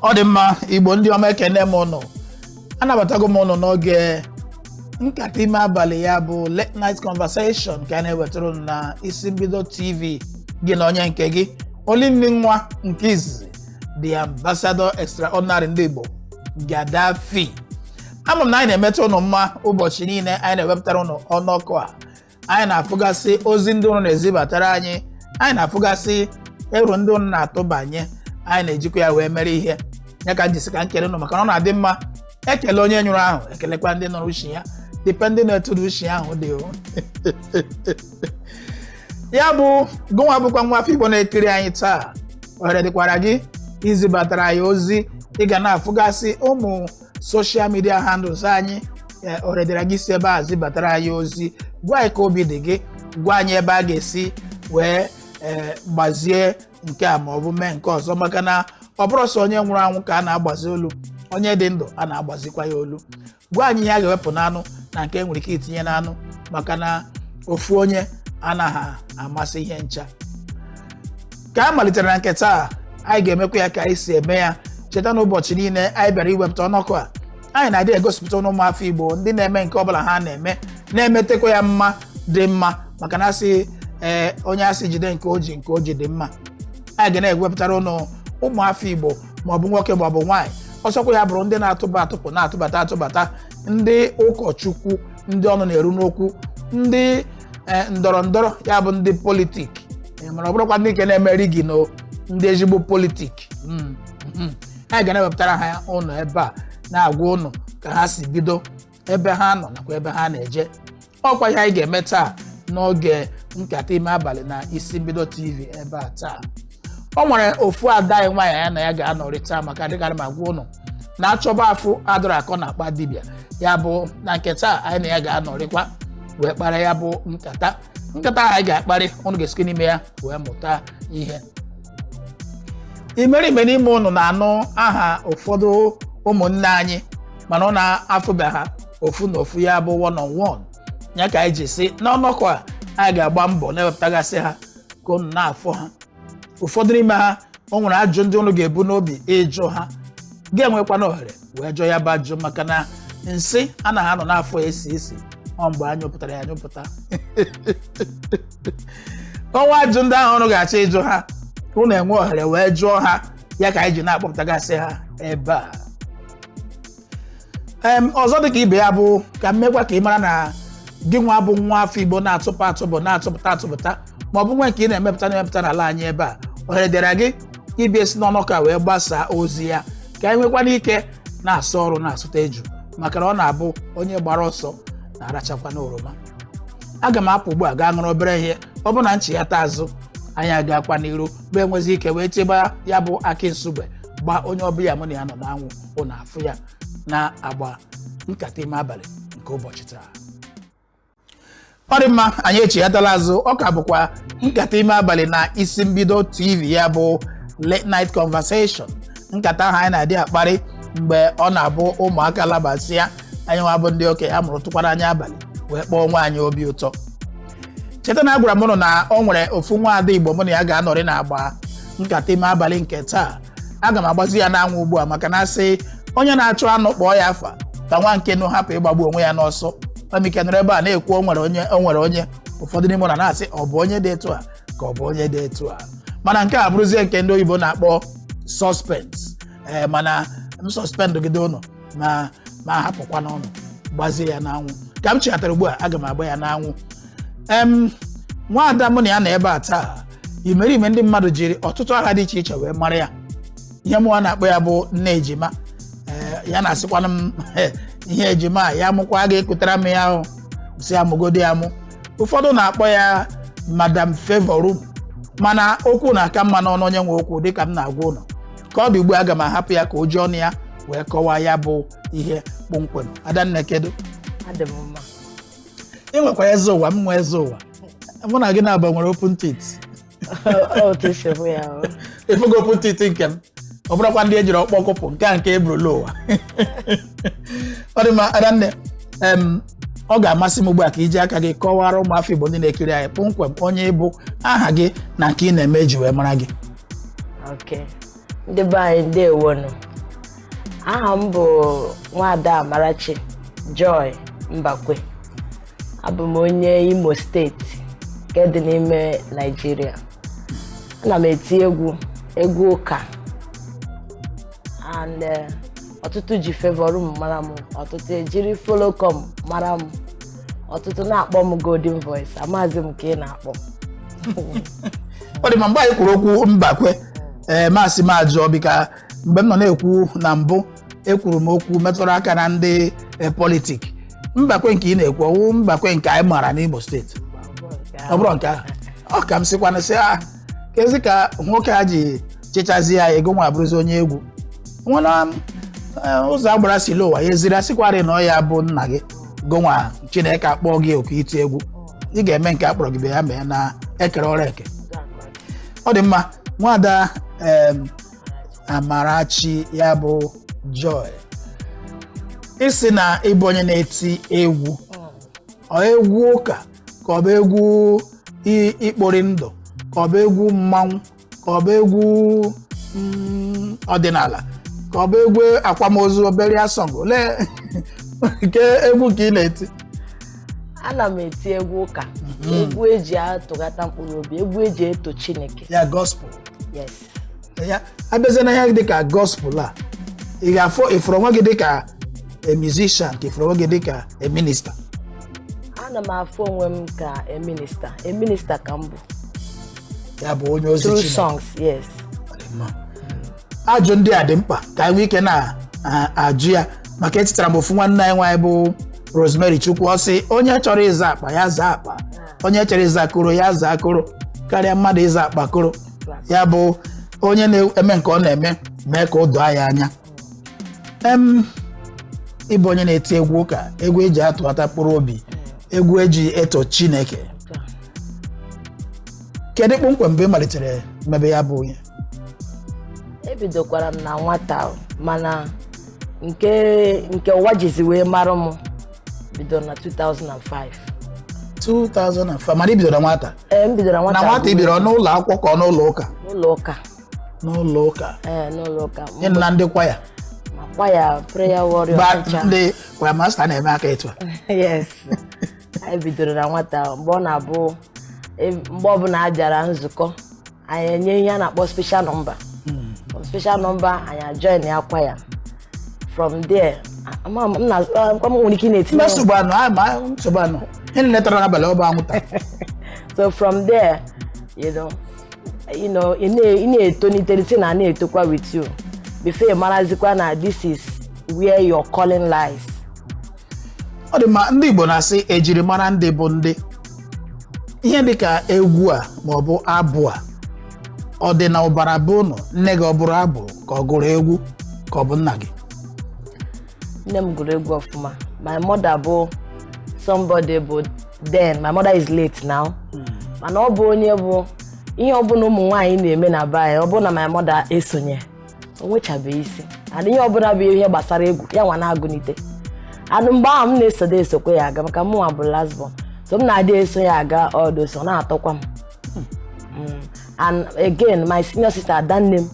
ọ dị mma igbo ndị ọma ekene m ụnụ anabatago m ụnụ n'oge nkata ime abalị ya bụ late night conversation nke a na-ewetara ụnụ na isi mbido tv gị na onye nke gị olinni nwa nke izizi the ambassador extraordinary ndị igbo Gaddafi ama m na anyị na-emeta ụnụ mma ụbọchị niile anyị na-ewepụtara ụnụ ọnọkọ a anyị na-afụgasị ozi ndị ụnụ na-ezibatara anyị anyị na-afụgasị ero ndị ụnụ na-atụbanye anyị na-ejikwa ya wee mere ihe ya ka m ji si ka m kelee ụnụ maka na ọ na-adị mma ekele onye nyụrụ ahụ ekelekwa ndị nụrụ ushi ya depending na etu ushi ahụ dị ya bụ gụnwa bụkwa nwa afọ igbo na-ekiri anyị taa ohere dịkwara gị izibatara anyị ozi ị ga na-afụgasị ụmụ social media handles anyị ee, ohere dịrị gị si ebe a zibatara anyị ozi gwa anyị ka obi dị gị gwa anyị ebe a ga-esi wee ee, gbazie nke a ma ọ bụ mee nke ọzọ maka na ọ bụrọ sọ onye nwụrụ anwụ ka a na-agbazi olu onye dị ndụ a na-agbazikwa ya olu gwa anyị ihe a ga-ewepụ n'anụ na nke e nwere ike itinye n'anụ maka na ofu onye anaghị amasị ihe ncha ka anyị malitere na nke taa anyị ga-emekwa ya ka anyị si eme ya cheta na ụbọchị niile anyị bịara iwepụta ọnọkọ a anyị na-adị egosipụta ụnụ ụmụafọ igbo ndị na-eme nke ọbụla ha na-eme na-emetekwa ya mma dị mma maka na a sị ee onye a sị jide nke o ji nke o ji dị mma anyị ga na-ewepụtara ụnụ ụmụafọ igbo maọbụ nwoke maọbụ nwaanyị ọ sọkwa ya bụrụ ndị na-atụpụ atụpụ na-atụbata atụbata ndị ụkọchukwu ndị ọnụ na-eru n'okwu ndị ee ndọrọ ndọrọ ya bụ ndị politik Ee, mana ọ bụrọkwa ndị nke na-eme rigging ndị ezigbo politik Mm, mhm. anyị ga na-ewepụtara ha ụnụ ebe a na-agwa ụnụ ka ha si bido ebe ha nọ nakwa ebe ha na-eje ọ kwa ihe anyị ga-eme taa n'oge nkata ime abalị na isi mbido tv ebe a taa o nwere ofu ada anyị nwaanyị anyị na ya ga-anọrị taa maka dịkarị m agwa ụnụ na a chọba a fụ adịrọ akọ n'akpa dibịa ya bụ na nke taa anyị na ya ga-anọrịkwa wee kpara ya bụ nkata nkata ahụ anyị ga-akparị ụnụ ga-esikwa n'ime ya wee mụta ihe imerime n'ime ụnụ na-anụ aha ụfọdụ ụmụnne anyị mana ụnụ afụbe ha ofu na ofu ya bụ one on one ya ka anyị ji si n'ọnọkọ a anyị ga-agba mbọ na-ewepụtagasị ha ka unu na-afụ ha ụfọdụ n'ime ha o nwere ajụ ndị unu ga-ebu n'obi ịjụ ha ga-enwekwanụ ohere wee jụọ ya bụ ajụ maka na nsị anaghị anọ n'afọ esi esi ọ mgbe a nyụpụtara ya anyụpụta o nwee ajụ ndị ahụ unu ga-achọ ịjụ ha unu enwee ohere wee jụọ ha ya ka anyị ji na-akpọpụtagasị ha ebe a em ọzọ dịka ibe ya bụ ka m mekwa ka ị mara na gị nwa bụ nwa afọ igbo na-atụpụ atụpụ na-atụpụta atụpụta ma ọ bụ nwe nke ị na-emepụta na-emepụta n'ala anyị ebe a ohere dịra gị ịbịa esi n'ọnọkọ a wee gbasaa ozi ya ka anyị nwekwana ike na-asụ ọrụ na-asụta eju maka na ọ na-abụ onye gbara ọsọ na-arachakwa n'oroma aga m apụ ugbu a gaa ṅụrụ obere ihe ọ bụ na nchighata azụ anyị agakwa n'iru bụ enwezi ike wee cheba ya bụ akị nsugbe gbaa onye ọbịa mụ na ya nọ n'anwụ ụnụ afụ ya n'agba nkata ime abalị nke ụbọchị taa ọ dị mma anyị echighatala azụ ọ ka bụkwa nkata ime abalị na isi mbido tv ya bụ late night conversation nkata ahụ anyị na-adị akparị mgbe ọ na-abụ ụmụaka labasịa anyị nwa bụ ndị okenye amụrụtụkwara anya abalị wee kpaa onwe anyị obi ụtọ cheta na agwara m ụnụ na o nwere ofu nwa ada igbo mụ na ya ga-anọrị n'agba nkata ime abalị nke taa aga m agbazi ya n'anwụ ugbu a maka na a sị onye na-achụ anụ kpọọ ya afa ka nwa nkenụ hapụ ịgbagbu onwe ya n'ọsọ Famike nọrọ ebe a na-ekwu o nwere onye o nwere onye ụfọdụ n'ime ụnụ na-asị ọ bụ onye dị etu a ka ọ bụ onye dị etu a mana nke a bụrụzie nke ndị oyibo na-akpọ suspense ee mana m suspend gide ụnụ ma ma hapụkwanụ ụnụ gbazie ya n'anwụ ka m chighatara ugbu a aga m agba ya n'anwụ em nwaada mụ na ya nọ ebe a taa imerime ndị mmadụ jiri ọtụtụ aha dị iche iche wee mara ya ihe mụwa na-akpọ ya bụ nne ejima ee ya na-asịkwana m ihe ejima a, ya mụkwa ga-ekutara m ya ahụ si ya mụgodo ya amụ ụfọdụ na-akpọ ya madam favour room mana okwu na-aka mma n'ọnụ onye nwe okwu dịka m na-agwa ụnụ ka ọ dị ugbu a aga m ahapụ ya ka o ji ọnụ ya wee kọwaa ya bụ ihe kpọmkwem adanne kedu adị m mma ị nwekwa eze ụwa m nwe eze ụwa mụ na gị naabọ nwere open teeth otu si bụ ya o. ị fụgo open teeth nke m ọ bụrọkwa ndị ejiri ọkpọ kụpụ nke a nke eburu lọ ụwa ọ dị mma adanne em, ọ ga-amasị m ugbu a ka i ji aka gị kọwara ụmụafọ igbo ndị na-ekiri anyị kpọmkwem onye ị bụ aha gị na nke ị na-eme eji wee mara gị Okay. ndị be anyị ndewonụ aha m bụ nwada amarachi joy mbakwe abụ m onye imo steeti nke dị n'ime naijiria ana m eti egwu egwu ụka and eh, ọtụtụ ji favour room mara m ọtụtụ ejiri follow come mara m ọtụtụ na-akpọ m golden voice amazi m nke ị na-akpọ ọ dị mma mgbe i kwuru okwu mbakwe ee m asị m ajụọ because mgbe m nọ na-ekwu na mbụ ekwuru m okwu metụrụ aka na ndị e, politik mbakwe nke ị na-ekwu ọ wụ mbakwe nke anyị maara n'Imo steeti ọ bụrụ nke ahụ ọ ka m sịkwana sị ah kezi ka nwoke a ji chịchazi ya gị nwa abụrụzi onye egwu nwena eh, ụzọ agbara si ụwa ya eziri asịkwarị na ọ ya bụ nna gị gị nwa chineke akpọọ gị oku iti egwu ị ga-eme nke akpọrọ gị bịa mee na ekere ọrụ eke ọ dị mma nwada em, amarachi ya bụ joy ị sị na ị bụ onye na-eti egwu ọ egwu ụka ka ọ bụ egwu i- ikpori ndụ ka ọ bụ egwu mmanwụ ka ọ bụ egwu mm, ọdịnala ka ọ bụ egwu akwamozu burial song olee nke egwu ka ị na-eti ana m eti egwu ụka egwu eji atụghata mkpụrụ obi egwu eji eto chineke ya gospel yes ya abịazie na ihe dịka gospel a ị ga-afụ ị fụrụ onwe gị dịka a musician ka ị fụrụ onwe gị dịka a minister ana m afụ onwe m ka a minister a minister ka m bụ ya bụ onye ozi through Chineke songs yes Ma, ajụ ndị a dị mkpa ka anyị nwee ike na-ajụ ya maka echetara m ofu nwanne anyị nwaanyị bụ Rosemary Chukwu ọ sị onye chọrọ ịza akpa ya zaa akpa onye chọrọ ịza koro ya zaa koro karịa mmadụ ịza akpa koro ya bụ onye na-eme nke ọ na-eme mee ka o doo ya anya em ị bụ onye na-eti egwu ụka egwu eji atụghata mkpụrụ obi egwu eji eto chineke kedu kpọmkwem mgbe ị malitere mebe ya bụ onye ebidokwara m na nwata o, mana nke nke ụwa jizi wee mara m bidoro na 2005 2005 mana i bidoro na nwata ee m bidoro na nwata nwata ahụ i bidoro n'ụlọ akwụkwọ ka ọ n'ụlọ ụka n'ụlọ ụka n'ụlọ ụka ee n'ụlọ ụka ị nọ na ndị kwaya ma kwaya prayer warrior gba teacher. ndị kwaya master na-eme aka etu a yes anyị bidoro na nwata mgbe ọ na-abụ e- mgbe ọbụla a bịara nzukọ anyị enye ihe a na-akpọ special number special number anyị ajoin ya kwaya from there ama m na kwa m nwere ike ị na-etinye mba nsogbu adịrọ a ma nsogbu adịrọ ihe niile tara n'abalị ọ bụ anwụta so from there you know you know ị na- ị na-etolite thing a na-etokwa with you before ị marazikwa na this is where your calling lies ọ dị mma ndị Igbo na-asị ejiri mara ndị bụ ndị ihe dịka egwu a maọbụ abụ a ọ dị n'ọbara be unu nne gị ọ bụrụ abụ ka ọ gụrụ egwu ka ọ bụ nna gị nne m gụrụ egwu ọfụma my mother bụ somebody bụ then my mother is late now mana ọ bụ onye bụ ihe ọbụla ụmụ nwaanyị na-eme na be anyị ọ bụ na my mother esonye o nwechabeghị isi and ihe ọbụla bụ ihe gbasara egwu ya nwa na-agụnite and mgbe ahụ m na-esode esokwa ya aga maka mụnwa bụ last born so m na-adị eso ya aga ọ dị ụsọ na-atọkwa m Mm. and again my senior sister adanne m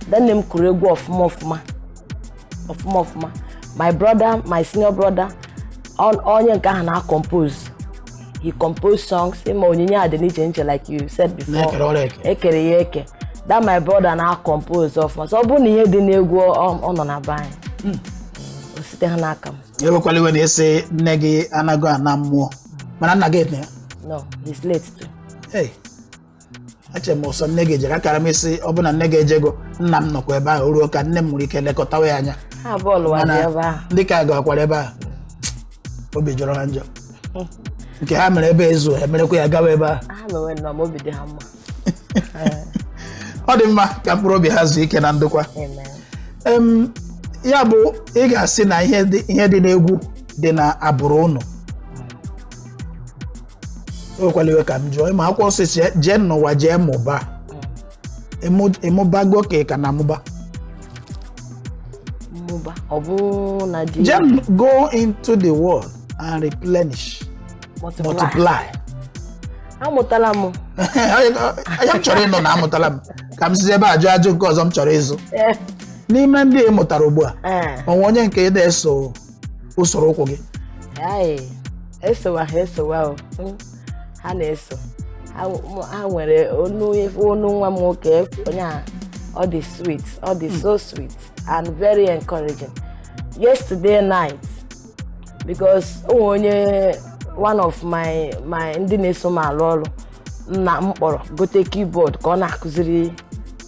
adanne m kụrụ egwu ọfụma ọfụma ọfụma ọfụma my brother my senior brother on- onye nke ahụ na-compose he composed songs ị ma onyinye a dị n'iche n'iche like you said before e kere ya eke that my brother na-compose ọfụma so ọ bụrụ na ihe dị n'egwu ọ nọ na be anyị hmm. o site ha n'aka m ewekwala iwe na ị sị nne gị anago ana mmụọ mana nna gị ete ya no he's late too hey eche m ọ sọ nne gị jere akara m ịsị ọ bụ na nne gị ejego nna m nọkwa ebe ahụ ruo ka nne m nwere ike lekọtawa ya anya ha abụọ lụwa dị mana ebe ahụ ndị ka gakwara ebe ahụ obi jọrọ ha njọ nke ha mere ebe ezu ha merekwa ya gawa ebe ahụ ha mewe nnọọ ma obi dị ha mma ọ dị mma ka mkpụrụ obi ha zuo ike na ndokwa Amen. Em, ya bụ ị ga-asị na ihe dị ihe dị n'egwu dị n'agbụrụ unu ewekwala iwe ka m jụọ ị ma akwụkwọ nsọ sị jee n'ụwa jee mụba Ị mụ- ị mụbago ka ị ka na-amụba mụba ọ bụ na ji jee m- go into the world and replenish multiply. multiply amụtala m ọ ya m chọrọ ịnụ na amụtala m ka m sizi ebe a jụọ ajụ nke ọzọ m chọrọ ịjụ Eh, n'ime ndị ị mụtara ugbu a eh, o nwe onye nke na-eso usoro ụkwụ gị Ayi, esowa ha esowa o Mm, ha na-eso Ha- mụ- ha nwere onu onu nwa m nwoke efu- onye a ọ dị sweet ọ dị so sweet and very encouraging yesterday night because o nwere onye one of my my ndị na-eso m alụ ọrụ m na m kpọrọ gote keyboard ka ọ na-akụziri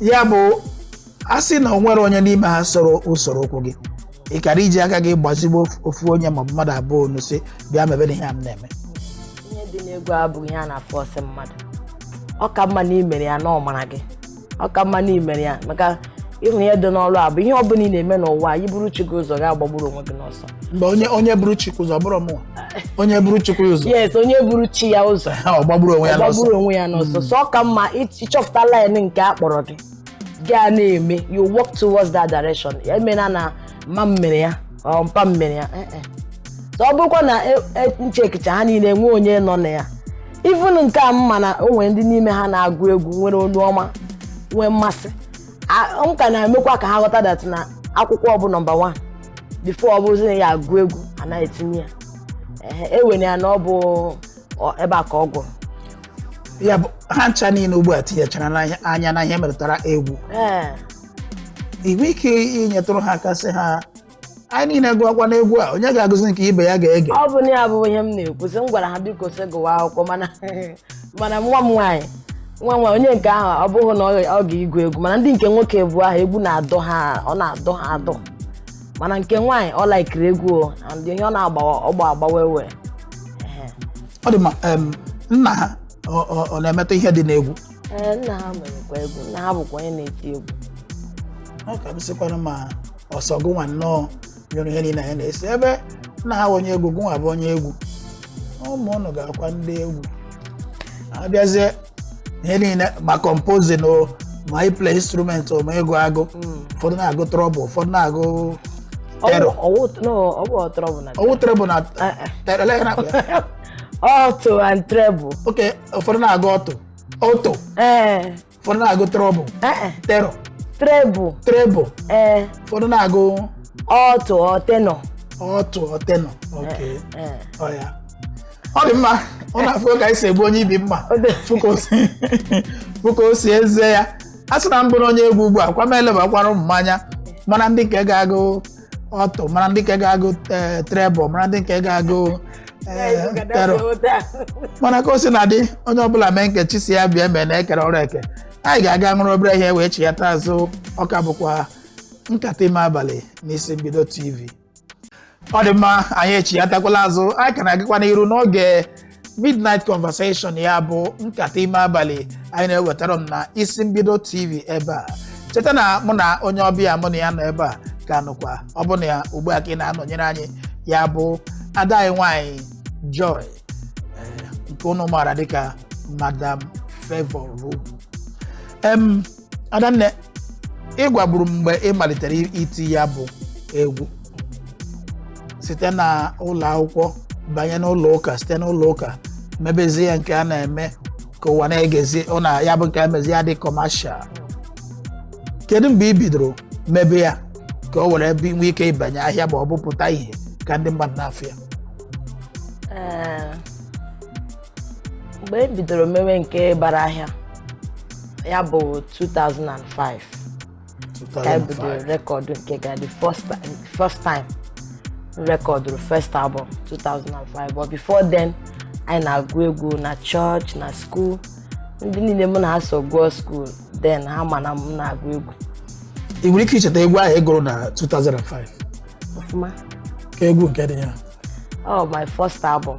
ya bụ a sị na o nwere onye n'ime ha soro usoro ụkwụ gị ị kara iji aka gị gbazigbo ofu onye maọbụ mmadụ abụọ onu sị bịa mebe na ihe a m na-eme ihe dị n'egwu abụghị ihe a na-aforce mmadụ ọ ka mma na i mere ya na ọ mara gị ọ ka mma na i mere ya maka ị hụ ihe dị n'ọrụ a bụ ihe ọ bụla ị na-eme n'ụwa a i buru chi gị ụzọ ị ga-agbagburu onwe gị n'ọsọ mgbe onye onye buru chikwu ụzọ bụrụ mụnwa onye buru chikwu ụzọ yes onye buru chi ya ụzọ ha ọ gbagburu onwe ya ọ n'ọsọ gbagburu onwe ya n'ọsọ so ọ ka mma ịch- ịchọpụta line nke a kpọrọ gị gaa na-eme you walk towards that direction ya emena na mma m mere ya or mpa m mere ya eh, eh. so ọ bụrụkwa na e- e- m checkicha ha niile enwe onye nọ na ya even nke a m ma na o nwere ndị n'ime ha na-agụ egwu nwere olu ọma nwee mmasị a- m ka na-emekwa ka ha ghọta that na akwụkwọ bụ number one before ọ bụzi na ya agụ egwu a na-etinye ya Ehe, e were ya na ọ bụ ọ- ebe a ka ọ gwụrụ ya bụ ha ncha niile ugbu a tinyechara n'anya- anya na ihe metụtara egwu ee inwe ike inyetụrụ ha aka sị ha anyị niile gụọkwa n'egwu a onye ga-agụzi nke ibe ya ga-ege ọ bụ na ya bụ ihe m na-ekwu sị m gwara ha biko sị gụwa akwụkwọ mana mana nwa m nwaanyị nwa m nwaanyị onye nke ahụ ọ bụghị na ọ ọ ga-igwu egwu mana ndị nke nwoke abụọ ahụ egwu na-adọ ha ọ na-adọ ha adọ mana nke nwaanyị ọ laikiri egwu o and ihe ọ na-agbawa ọgba agbawa ewe ọ dị mma em, nna ha ọ- ọ ọ na-emetụ ihe dị n'egwu Ee, nna ha merekwa egwu nna ha bụkwa onye na-eti egwu ọ ka bụsịkwanụ ma ọ sọ gụnwa nnọọ nyụrụ ihe niile anyị na-esi ebe nna ha bụ onye egwu gụnwa bụ onye egwu ụmụ ụnụ ga-abụkwa ndị egwu abịazie ihe niile ma composing o ma ịplay instrument o ma ịgụ agụ ụfọdụ na-agụ treble ụfọdụ na-agụ tenor ọ wụ no ọ bụ ọ treble na ọ wụ treble na Eh, eh. tenor ele ihe a na-akpọ ya? alto and treble okay ụfọdụ na-agụ alto alto ee ụfọdụ na-agụ treble ee tenor treble treble ee ụfọdụ na-agụ alto or tenor alto or tenor okay ee ọ ya ọ dị mma ọ na-afụ ka anyị si egbu onye ibi mma Ọ dị- fụ ka o si- fụ ka o si eze ya a sị na m bụrụ onye egwu ugbu a kwa m elebakwara ụmụ m anya mara ndị nke ga-agụ alto mara ndị nke ga-agụ eh, treble mara ndị nke ga-agụ eh, tenor mana ka o si na dị onye ọbụla mee nke chi si ya bịa mee na e kere ọrụ eke anyị ga-aga ṅụrụ obere ihe wee chiyata azụ ọ ka bụkwa nkata ime abalị n'isi mbido tv ọ dị mma anyị echiyatakwala azụ anyị ka na-agakwa n'iru n'oge Midnight Conversation ya bụ nkata ime abalị anyị na-ewetara unu na isi mbido TV ebe a cheta na mụ na onye ọbịa mụ na ya nọ ebe a ka nọkwa ọ bụ na ya ugbu a ka ị na-anọnyere anyị ya bụ ada anyị nwanyị Joy eh, nke unu maara dịka Madam Favour Room em adanne ị gwaburu m mgbe ị malitere iti ya bụ egwu site na ụlọ akwụkwọ banye n'ụlọ ụka site n'ụlọ ụka mebezie ya nke a na-eme ka ụwa na-egezi ọ na ya bụ nke a mezi ya dị commercial kedu mgbe ị bidoro mebe ya ka o were bi- nwee ike ịbanye ahịa ma ọ bụ pụta ihe ka ndị mmadụ na-afụ ya Ee, mgbe m bidoro mewe nke bara ahịa ya bụ 2005 ka e bidoro 2005 rekọdụ nke ga the first ti- first time m rekọdụrụ first album 2005 but before then anyị na-agụ egwu na church na school ndị niile mụ na ha so gụọ school then ha ma na m na-agụ egwu ị nwere ike icheta egwu ahụ ị gụrụ na 2005 ọfụma kee egwu nke dị ya oh my first album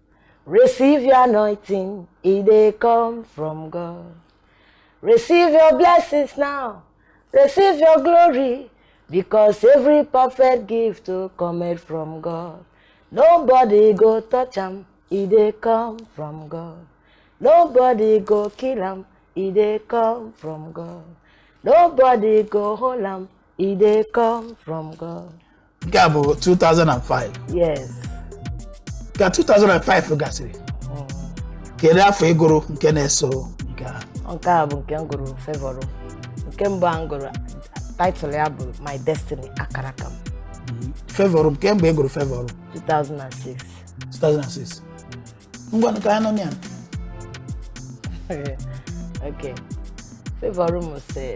Receive your anointing, it they come from God. Receive your blessings now, receive your glory, because every perfect gift to come from God. Nobody go touch him, it they come from God. Nobody go kill him, it they come from God. Nobody go hold him, it they come from God. nke a bụ 2005 yes ka 2005 gasịrị kedu afọ ị gụrụ nke na-eso nke a nke a bụ nke m gụrụ favor room nke mbụ a m gụrụ title ya bụ my destiny akara aka m favor room kee mgbe ị gụrụ favor room 2006 2006 ngwanụ ka anyị nọ na ya okay favor room sị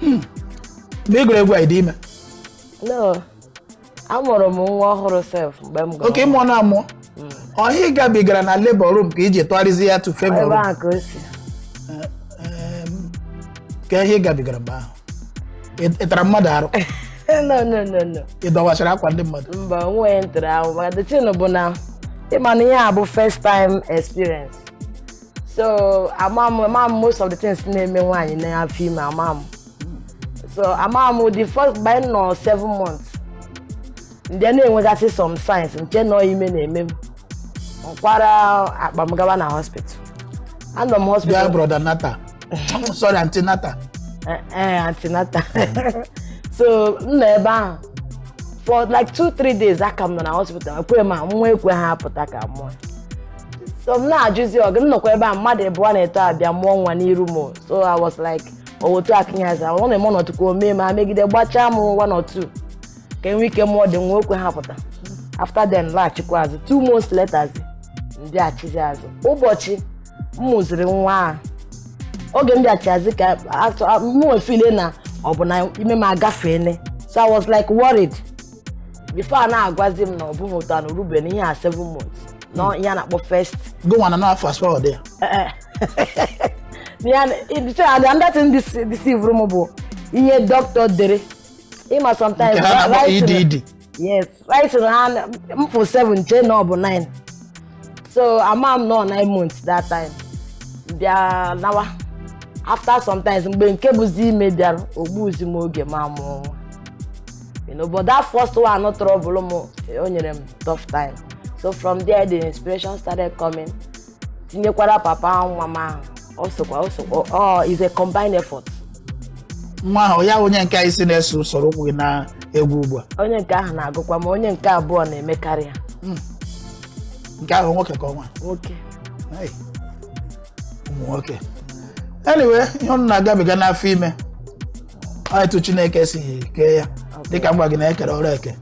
Hmm. mgbe ị gụrụ egwu a ị dị ime no amụrụ m nwa ọhụrụ sef mgbe m gụrụ okay ị mụọna amụọ ọ ihe ị gabigara na labor room ka i ji tụgharịzi ya to favor room ebe a ka o si kee ihe ị gabigara mgbe ahụ Ị- ị tara mmadụ arụ no no no no ị dọwachara akwa ndị mmadụ mba onweghị m tara arụ maka the thing bụ na ị ma na ihe a bụ first time experience so ama m ama m most of the things na-eme nwaanyị n'afọ ime ama m so ama m the first baby m nọ seven months m bịa na-enwegasị some signs m chee na ọ ime na-eme m m kwara akpa m gawa na hospital anọ m Bịa hospital brother natal sorry antenatal Eh, eh, antenatal so m nọ ebe ahụ for like two three days aka m nọ na hospital ekwe ma nwa ekwe ha apụta ka m mụọ so m na-ajụzi oge m nọkwa ebe a mmadụ ịbụọ na etọ abịa mụọ nwa n'iru m so I was like owotu akịnyaza ọ na-eme ọnọdụ ka o mee ma megide gbachaa m one or two ka e nwee ike mụọ dị nwa o kwe ha pụta after then m laghachikwa azụ two months later m bịachizi azụ ụbọchị m mụziri nwa a oge m bịachi azụ ka m wee feel na ọ bụ na ime m agafeele so I was like worried before a na-agwazi m na ọ bụghị otu a na o rube na ihe a 7 months na ihe a na-akpọ first gụnwa na n'afọ asfaw dị ya eh, eh. Ya na- i- so, and another thing dis- deceive m bụ ihe doctor dere ị ma sometimes nke ha na-akpọ right na- EDD yes writing ha na- m fụ 7 chee na ọ bụ 9 so ama m nọ 9 months that time bịa nawa after sometimes mgbe nke bụzi ime bịara o gbuzi m oge m amụọ nwa you know but that first one ọ trouble m o nyere m tough time so from there the inspiration started coming tinyekwara papa ahụ nwa m ahụ ọ sokwa ọ sokwa ọ is a combined effort nwa ahụ ya onye nke ị sị na-eso usoro ụkwụ gị na egwu ugbu a onye nke ahụ na-agụkwa ma onye nke abụọ na-emekarị ya nke ahụ nwoke ka ọ nwa nwoke Hey, ụmụ nwoke anyway ihe unu na-agabiga n'afọ ime Ọ etu chineke si kee ya dịka m gwa gị na e kere ọrụ eke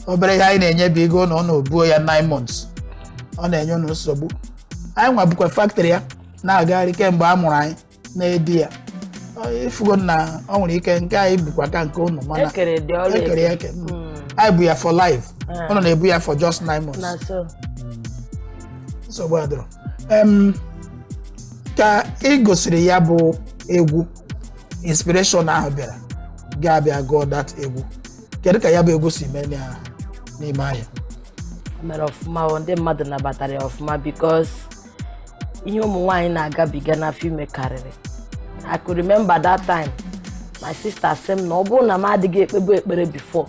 obere ihe anyị na-enye bụ ego na unu ebuo ya 9 months ọ na-enye unu nsogbu anyị nwa bukwa factory ya na-agagharị kemgbe a mụrụ anyị na-edi ya Ọ- ị fụgo na ọ nwere ike nke anyị bukwa ka nke unu mana e kere dị ọrụ e kere ya eke eke Mm. anyị bu ya for life Ah. unu na-ebu ya for just 9 months na so nsogbu adịrọ Em, ka ị gụsịrị ya bụ egwu inspiration ahụ bịara gị abịa gụọ that egwu kedu ka ya bụ egwu si mee na- n'ime ahịa O mere ọfụma o, ndị mmadụ nabatara ya ọfụma because ihe ụmụ nwaanyị na-agabiga n'afọ ime karịrị I could remember that time my sister sị m na ọ bụrụ na m adịghị ekpebu ekpere before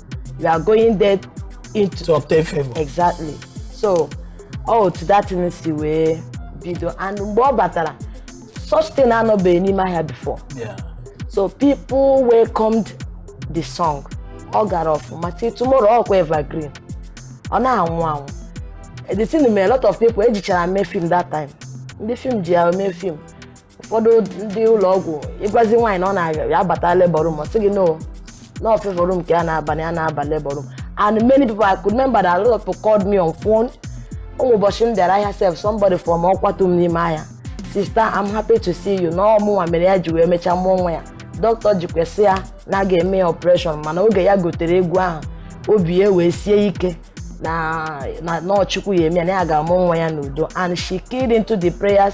you are going there into to obtain favor exactly so ọ otu that thing si wee bido and mgbe ọ batara such thing anọbeghị n'ime ahịa before yeah so people welcomed the song ọ gara ọfụma till tomorrow ọ kwa evergreen ọ na-anwụ anwụ the thing mere a lot of people ejichara mee film that time ndị film ji ya mee film ụfọdụ ndị ụlọ ọgwụ ị gwazi nwaanyị na ọ na-aga ya bata labor room ọ sị gị no no favor room ka ya na-aba na ya na-aba labor room and many people I could remember that a lot of people called me on phone o nwere ụbọchị m bịara ahịa sef somebody fọrọ ọ kwatu m n'ime ahịa sister I'm happy to see you na ọ mụnwa mere ya ji wee mechaa mụọ nwa ya dọkịta jikwa sị ya na a ga-eme ya operation mana oge ya gotere egwu ahụ obi ya wee sie ike na na na Chukwu ya-eme ya na ya ga-amụ nwa ya n'udo and she keyed into the prayers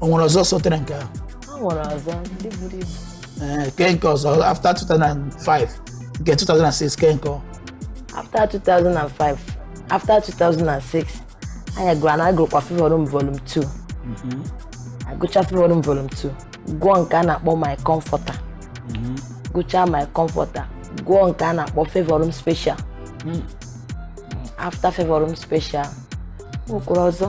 o nwere ọzọ sotere nke ahụ o nwere ọzọ ndị buru ibu ee kee nke ọzọ after 2005 nke 2006 kee nke ọ after 2005 after 2006 anyị gụrụ na a gụrụkwa favor room volume 2 a gụcha favor room volume 2 gụọ nke a na-akpọ my comforter gụchaa my comforter gụọ nke a na-akpọ favor room special after favor room special o kwuru ọzọ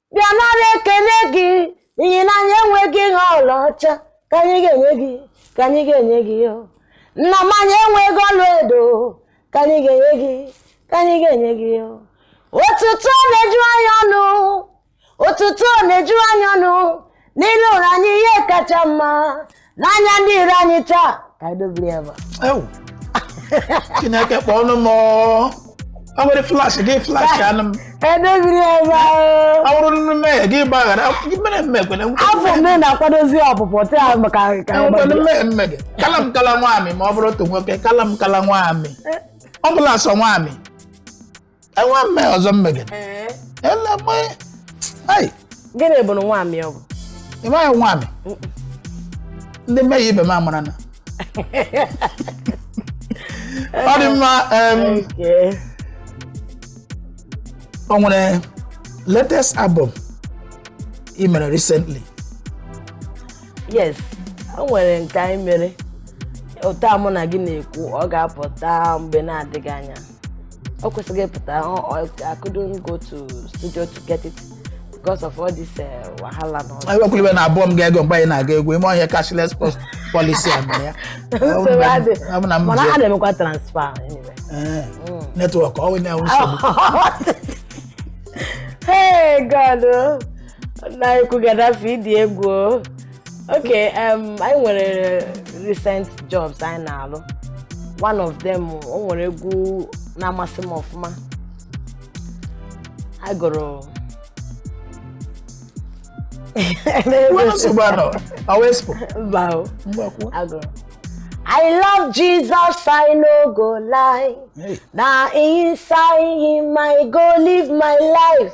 bịa nara ekele gị n'ihi na anyị enweghị ihe ọlaọcha ka anyị ga-enye gị ka anyị ga-enye gị o nna m anyị enweghị ọla edo ka anyị ga-enye gị ka anyị ga-enye gị o otuto na-eju anyị ọnụ otuto na-eju anyị ọnụ n'ile ụra anyị ihe kacha mma n'anya ndị iro anyị taa ka anyị dobiri ya ebe a. Ewu. chineke kpọọ ọnụ m ọ. o nwere flash gị flash anụ m ka anyị dobiri ya ebe a. ọ bụrụ na mmehie gị gbaghara gị mere mme ekwene afọ m na-akwadozi ọpụpụ taa maka ka anyị enwekwere gbado. mmehie mme gị kala m kala nwaamị ma ọ bụrụ otu nwoke kala m kala nwaamị ọ bụla sọ nwaamị enwe mme ọzọ mmegide Ee. ele mmanya ai gịnị bụ nwaamị ọ bụ ị maghị nwaamị ndị mmehie ibe m amarana ọ dị mma em, Ee. o nwere latest album i mere recently yes o nwere nke anyị mere otu a mụ na gị na-ekwu ọ ga-apụta mgbe na-adịghị anya o kwesịgo ịpụta I couldn't go to studio to get it because of all this eh, wahala na ọzọ. ewekwuliwe na album ga-ego mgbe anyị na-aga egwu ime ọhịa cashless post policy a mere ya Nsogbu adị. ọ bụ na m mana ji- ha na-emekwa transfer anyway. Ee, network ọ wụnye ahụ nsogbu hey god o. nna anyị kwugadafe ịdị egwu o. ok um, anyị nwere recent jobs anyị na-alụ one of them o nwere egwu na-amasị m ọfụma a gụrụ I love Jesus, I no go lie. Hey. Now inside him I go live my life.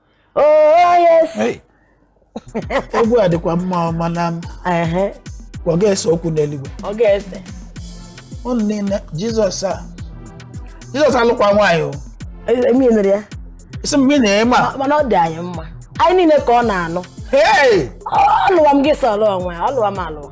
Oh yes. Hey. egwu a dịkwa mma o mana Ehe, ọ ga-ese okwu n'eluigwe Ọ ga-ese. ụnụ niile jizọs a jizọs alụkwa nwaanyị o Emi nụrụ ya. isi mgbe ị na-eme a Mana ọ dị anyị mma. Anyị niile ka ọ na-anụ. hey! Ọ lụwa m gị sọrọ onwe ya, ọ lụwa m alụwa.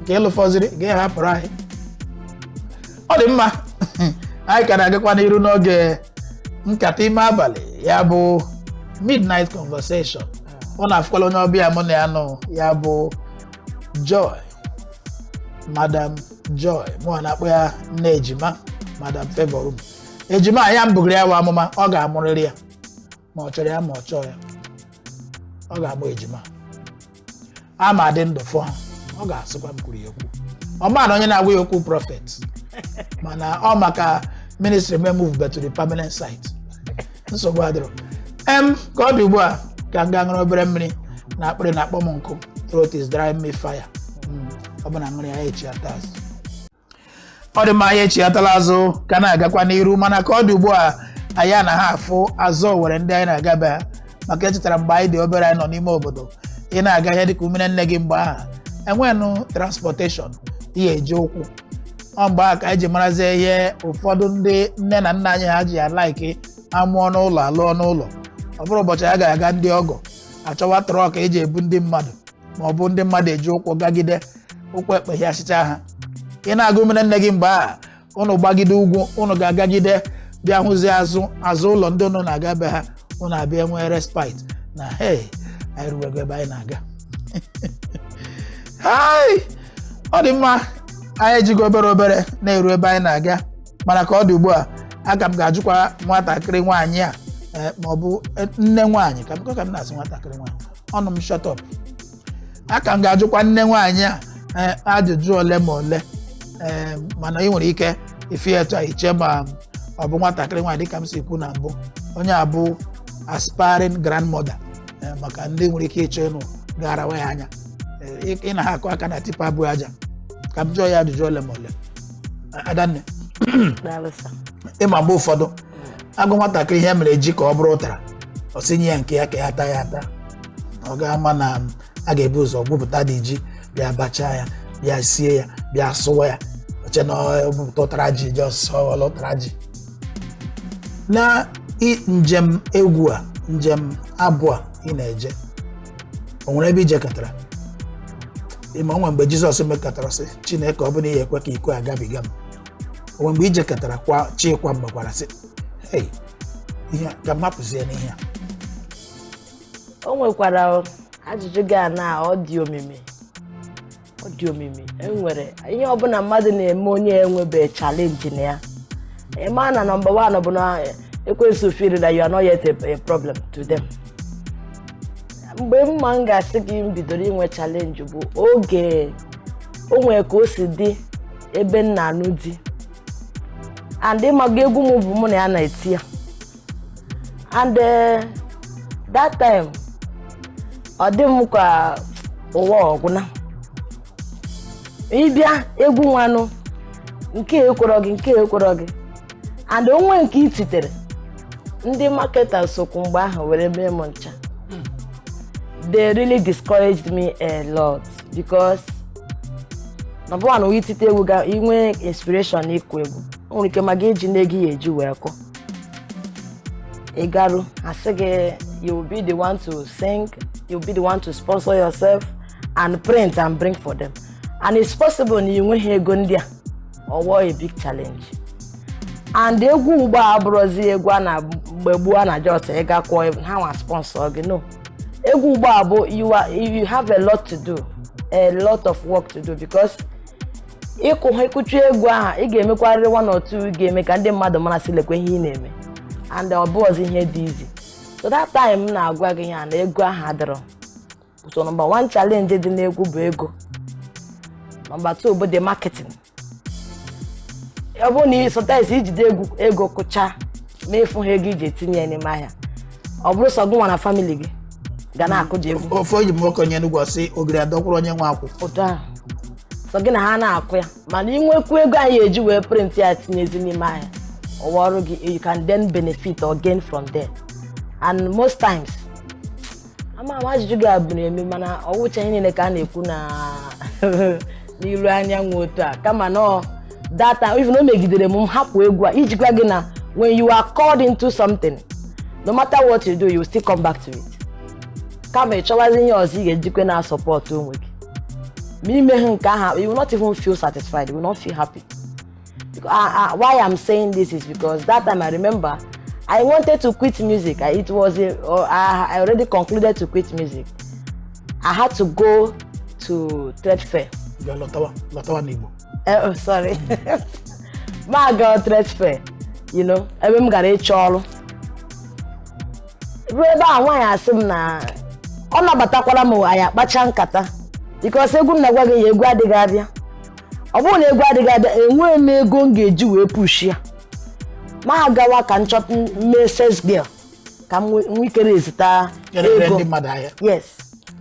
nke ị lụfọziri gị ahapụrụ anyị ọ dị mma anyị ka na-agakwa n'iru n'oge nkata ime abalị ya bụ midnight conversation ụnụ afụkwala onye ọbịa mụ na ya nọ ya bụ joy madam joy mụwa na-akpọ ya nne ejima madam favour m ejima ya m bugiri ya wa amụma ọ ga-amụrịrị ya ma ọ chọrọ ya ma ọ chọọ ya ọ ga-amụ ejima a m adị ndụ fụ ha ọ ga-asịkwa m kwuru ya okwu ọ ma na onye na-agwa ya okwu prophet mana ọ maka ministry m emovebe to the permanent site nsogbu adịrọ em ka ọ dị ugbu a ka m gaa ṅụrụ obere mmiri na akpịrị na-akpọ m nkụ throat is dry me fire Mm, ọ bụ na m ṅụrụ ya echi ataz ọ dị mma anyị echighatala azụ ka na-agakwa n'iru mana ka ọ dị ugbu a anyị anaha afụ azụ owere ndị anyị na-aga be ha maka echetara mgbe anyị dị obere anyị nọ n'ime obodo ị na-aga ihe dịka umere nne gị mgbe ahụ enwenụ transportation ihe eji ụkwụ ọ mgbe ahụ ka anyị ji marazie ihe ụfọdụ ndị nne na nna anyị ha ji ya like amụọ n'ụlọ alụọ n'ụlọ ọ bụrụ ụbọchị a ga-aga ndị ọgọ achọwa truck eji ebu ndị mmadụ ma ọ bụ ndị mmadụ eji ụkwụ gagide ụkwụ ekpe ya asịcha ha ị na-aga umere nne gị mgbe a ụnụ gbagide ugwu ụnụ ga-agagide bịa hụzie azụ azụ ụlọ ndị ụnụ na-aga be ha ụnụ abịa nwee respite na hey anyị ruwego ebe anyị na-aga hai ọ dị mma anyị ejigo obere obere na-eru ebe anyị na-aga mana ka ọ dị ugbu a aka m ga-ajụkwa nwatakịrị nwaanyị a eh, ma ọ bụ eh, nne nwaanyị ka m ka m na-asị nwatakịrị nwaanyị ọnụ m shut up a ka m ga-ajụkwa nne nwaanyị a ee, ajụjụ ole ma ole ee, mana ị nwere ike ịfụ ya etu a iche ma ọ bụ nwatakịrị nwaanyị dịka m si kwu na mbụ onye a bụ aspiring grandmother ee, maka ndị nwere ike ịchọ ịnụ ga-arawa ya anya Ee, ị- ị naha akụ aka na tipper bu aja ka m jụọ ya ajụjụ ole ma ole adanne Daalụ sir. ị ma mgbe ụfọdụ a gwa nwatakịrị ihe mere ji ka ọ bụrụ ụtara ọ sị nye ya nke ya ka ya taa ya ata ọ ga-ama na a ga-ebu ụzọ gwupụtadị ji bịa bachaa ya bịa sie ya bịa sụwa ya o che na ọ bupụta ụtara ji ji ọsọ ọla ụtara ji na i- njem egwu a njem abụ a ị na-eje o nwere ebe i jekatara ị ma o nwe mgbe jizọs mekatara sị chineke ọ bụ na ị ya-ekwe ka iko agabiga m o nwe mgbe i jekatarakwa chikwa mgbakwara sị hey ihe a, ka m apụzie n'ihe a o nwekwara ajụjụ gị a na ọ dị omimi ọ dị omimi enwere ihe ọbụla mmadụ na-eme onye enwebe challenge na ya ị ma na number one bụ na ekwensu feel na you are not yet a, a problem to them mgbe mma m ga-asị gị m bidoro inwe challenge bụ oge o nwere ka o si dị ebe m na-anụ di and ịmaga egwu m bụ mụ na ya na-eti ya and eh, that time ọ dị m ka ụwa ọgwụna ịbịa egwu nwanụ nke ekwọrọ gị nke ekwọrọ gị and o nwe nke i titere ndị marketers sokwu mgbe ahụ were mee m ncha they really discouraged me a lot because number one ị tite egwu ga inwe inspiration na ịkụ egwu o nwere ike ma gị ejina ego ị ya-eji wee kụ ị garu a sị gị you will be the one to sing you will be the one to sponsor yourself and print and bring for them and it's possible na ị nweghị ego ndị a ọ wụ a big challenge and egwu ugbo a abụrọzi egwu a na mgbe gboo a na just ịga kwụọ ha nwa sponsor gị no egwu ugbu a bụ you are you have a lot to do a lot of work to do because ị kụ ha ị kụcha egwu aha ị ga-emekwarịrị one or two ga-eme ka ndị mmadụ mara sị lekwa ihe ị na-eme and ọ bụrọzi ihe dị easy so that time m na-agwa gị ya na ego aha adịrọ so number one challenge dị n'egwu bụ ego number two bụ the marketing ọ bụrụ na sometimes i jide ego kụcha ma ị fụha ego i ji etinye ya n'ime ahịa ọ bụrụ sọ gụnwa na family gị ga na-akụ ji egwu ofe oyi m okenye n'ugwu ọ sị ogiri adọkwuru onye nwe akwụ otu ahụ sọ gị na ha na-akụ ya mana inwekwu ego anyị eji wee print ya tinyezi n'ime ahịa ọwa ọrụ gị you can then benefit or gain from there and most times ama ama ajụjụ gị abụ na-eme mana ọ wụcha ihe niile ka a na-ekwu na n'ilu anyanwụ otu a kama na ọ data even o megidere m m hapụ egwu a iji gwa gị na when you are called into something no matter what you do you still come back to it kama ị chọwazi ihe ọzọ ị ga-ejikwe na-asupport onwe gị ma i meha nke ahụ you will not even feel satisfied you will not feel happy Because, uh, ah, uh, why I'm saying this is because that time I remember I wanted to quit music. I, it was a, uh, I already concluded to quit music. I had to go to trade fair. Ngwa lọtawa, lọtawa n'Igbo. Uh, eh, oh, sorry. Mm. M agaa trade fair. You know, ebe m gara ịchọ ọrụ. Ruo ebe a nwaanyị asị m na ọ nabatakwara m anyị akpacha nkata. Because egwu m na-agwa gị ya ego adịghị abịa. ọ bụrụ na ego adịghị abịa enweghị m ego m ga-eji wee pushi ya m agawa ka m chọta mee sales girl ka m nwe- nwee ike raiseta Erere ego ndị mmadụ ahịa yes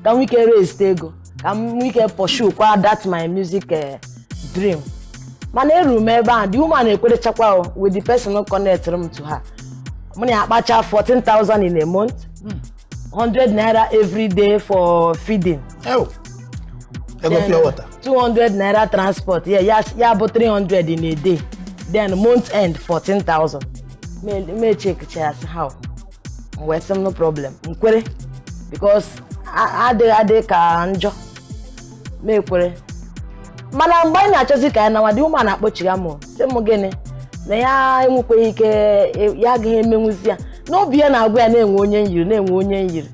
ka m nwee ike raise ego ka m nwee ike pursue kwa that my music eh, dream mana eru m ebe ahụ the woman ekwerechakwa o with the person connectụrụ m to her mụ na ya akpacha 14,000 in a month 100 naira every day for feeding Ew. Ego pure water. 200 naira transport yeah, ya, ya bụ 300 in a day then month end 14,000 Me- me checkchasịa ihe ahụ m wee sị m no problem m kwere because a- adịghị adị ka njọ mụ ekwere mana mgbe anyị na-achọzi ka anyị nawa the woman akpọchigha m sị m gịnị na ya enwekweghị ike ya agaghị emenwuzi ya n'obi ya na-agwa ya na e nwe onye m yiri na e nwe onye m yiri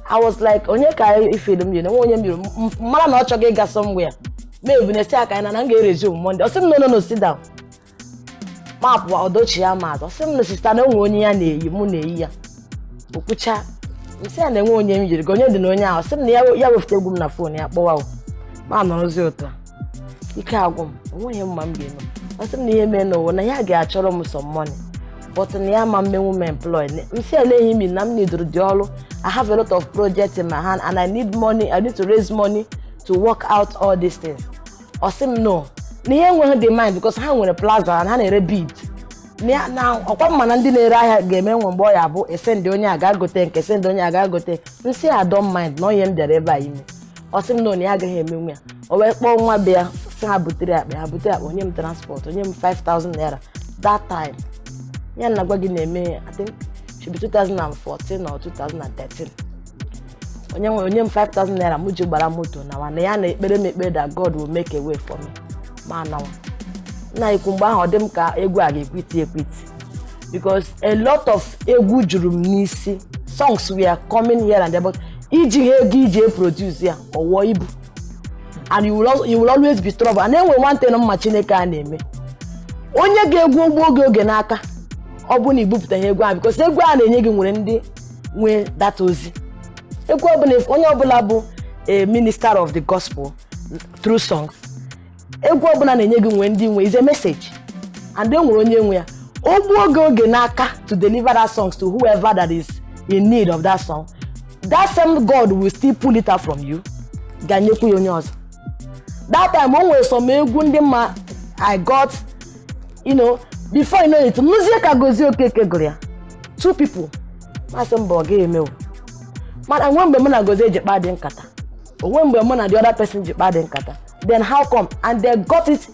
I was like onye ka i feel m yiri na nwe onye m yiri m mara na ọ chọghị ịga somewhere ma ebu n'isi aka ya na na m ga-eresume Monday ọ sị m no no no sit down mapụ ọdọchi ya ma ọ sị m no sister na e nwe onye ya na-eyi mụ na-eyi ya o kwucha m sị ya na e nwe onye m yiri gị onye dị na onye ahụ sị m na ya- ya wefute egwu m na phone ya kpọwa o ma nọrọzi otu a ike agwụ m o nweghị m ma m ga-eme ọ sị m na ihe mee n'ụwa na ya ga-achọrọ m some money but na ya ama emenwu m employ m sị eleghị mi na m nidoro dị ọrụ i have a lot of projects in my hand and i need money i need to raise money to work out all these things ọ sị m no na ya enweghị the mind because ha nwere plaza na ha na-ere bead na na ọkwa m ma na ndị na-ere ahịa ga-eme nwe mgbe ọ ya bụ e sendị onye a gaa gote nke a e sendị onye a gaa gote m sị I don't mind na ihe m bịara ebe a ime ọ sị m no na ya agaghị emenwu ya o wee kpọọ nwa be ya sị ha butere akpa ha butere akpa o nye m transport o nye m 5000 naira that time ihe a na-agwa gị na-eme ya I think should be 2014 or 2013 o nye m o nye m 5000 naira m ji gbara moto nawa na ya na-ekpere m ekpere that god will make a way for me ma nawa nna ikwu mgbe ahụ ọ dị m ka egwu a ga-ekwiti ekwiti because a lot of egwu juru m n'isi songs were coming here and there but iji ha ego iji eproduce ya ọ wụọ ibu and you will, al- you will always be trouble and e nwe one thing na m ma chineke a na-eme o nye gị egwu o gbuo gị oge n'aka ọ bụ na i bupụtaghị egwu ahụ because egwu a na-enye gị nwere ndị nwe that ozi egwu ọbụla onye ọbụla bụ a minister of the gospel through songs egwu ọbụla a na-enye gị nwere ndị nwe is a message and e nwere onye nwe ya o gbuo gị oge n'aka to deliver that songs to whoever that is in need of that song that same god will still pull it out from you gaa nyekwu ya onye ọzọ that time o nwere some egwu ndị m ma i got you know before you know it m nụzie ka gozie okeke gụrụ ya two people mụ asị mba ọ gaghị emewu mana nwe mgbe mụ na gozie ji kpaa dị nkata o nwe mgbe mụ na the other person ji kpaa dị nkata then how come and they got it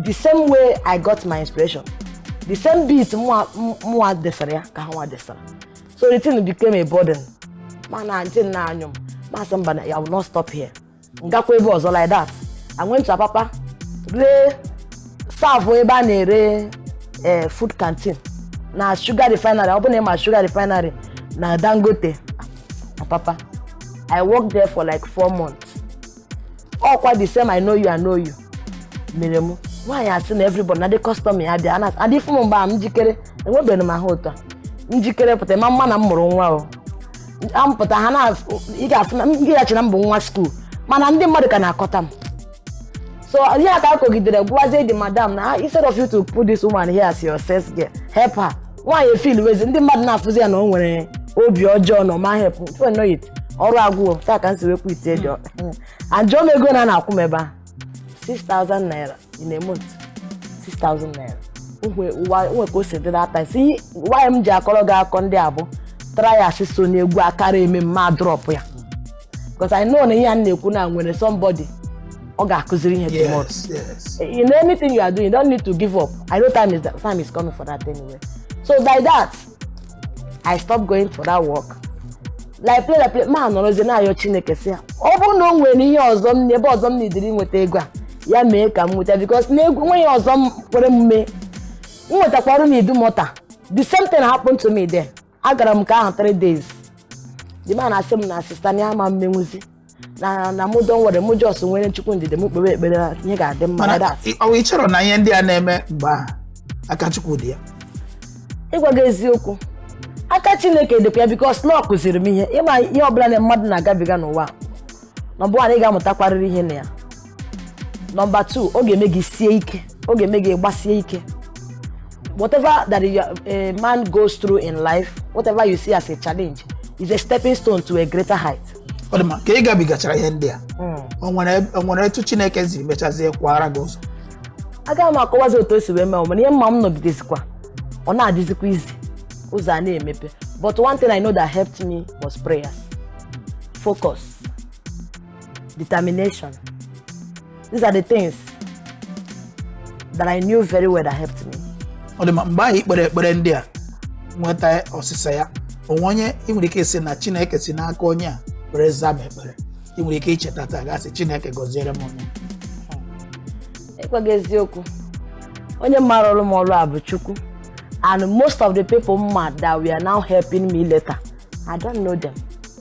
the same way i got my inspiration the same beat mụwa mụwa desara ya ka ha nwa desara so the thing became a burden mana ntị na-anyụ m mụ asị mba na i will not stop here m gakwa ebe ọzọ like that I went to Apapa ree serve ebe a na-ere eh, food canteen na sugar refinery ọ bụ na ị ma sugar refinery na Dangote Apapa I worked there for like four months ọkwa the same I know you I know you mere m nwaanyị a sị na everybody na ndị customer ya bịa ana adị fụ m mgbe a m jikere enwebeghị m ahụ otu a m jikere pụta ị ma ama na m mụrụ nwa o ampụta ha na ị ga-afụ na m ị ga-eche na m bụ nwa school mana ndị mmadụ ka na-akọta m so ihe a ka a kọgidere gwazie the madam na instead of you to put this woman here as your sales girl help her nwaanyị efeelwezi ndị mmadụ na-afụzi ya na o nwere obi ọjọọ na ọ ma help before you know it ọrụ agwụọ otu a ka m si wee quit there and jụọ m ego one a na-akwụ m ebe a 6000 naira in a month 6000 naira nwe ka o si dị that is why m ji akọrọ gị akụkọ ndị a bụ trials so n'egwu a kara eme m adrop ya because I know na ihe a na-ekwu na nwere somebody ọ ga-akụziri ihe tomorrow Yes, yes. in anything you are doing you don't need to give up I know time is, time is coming for that anyway so by that i stop going for that work like play like play ma nọrọzie na-ayọ chineke sị ya ọ bụrụ na o nwere ihe ọzọ m ebe ọzọ m needịrị nweta ego a ya mee ka m nweta because na egwu nweghị ihe ọzọ m kwere m mee m nwetakwa ọrụ na Idumota the same thing happened to me there agara m nke ahụ 3 days the man asị m na sister na ya ama emenwuzi na na mụdọ nwere mụ just nwere chukwu ndidi m kpewe ekpere ihe ga-adị mma mana like that. ọ ị chọrọ na ihe ndị a na-eme mgbe ahụ aka chukwu dị ya ịgwa gị eziokwu aka chineke dịkwa ya because na ọ kụziri m ihe ị ma ihe ọbụla na mmadụ na-agabiga n'ụwa nọmba 1 ị ga-amụtakwarịrị ihe na ya nọmba 2 ọ ga-eme gị sie ike ọ ga-eme gị gbasie ike whatever that you, a man goes through in life whatever you see as a challenge is a stepping stone to a greater height ọ dị mma ka ị gabigachara ihe ndị a o nwere o nwere etu chineke siri mechazie kwara gị ụzọ agaghị m akọwazi otu o si wee mee mana ihe m ma m nọgidezikwa ọ na-adịzikwa easy ụzọ a na-emepe but one thing i know that helped me was prayers focus determination. These are the things that I knew very well that helped me. ọ dị mma mgbe ahụ i kpere ekpere ndị a nweta ọsịsa ya o nwe onye ị nwere ike ịsị na chineke si n'aka onye a were zaa m ekpere ị nwere ike icheta taa gaa sị chineke gọziere m onye a ịgwa gị eziokwu onye m ma rụrụ m ọrụ a bụ chukwu and most of the people m ma that were now helping me later i don't know them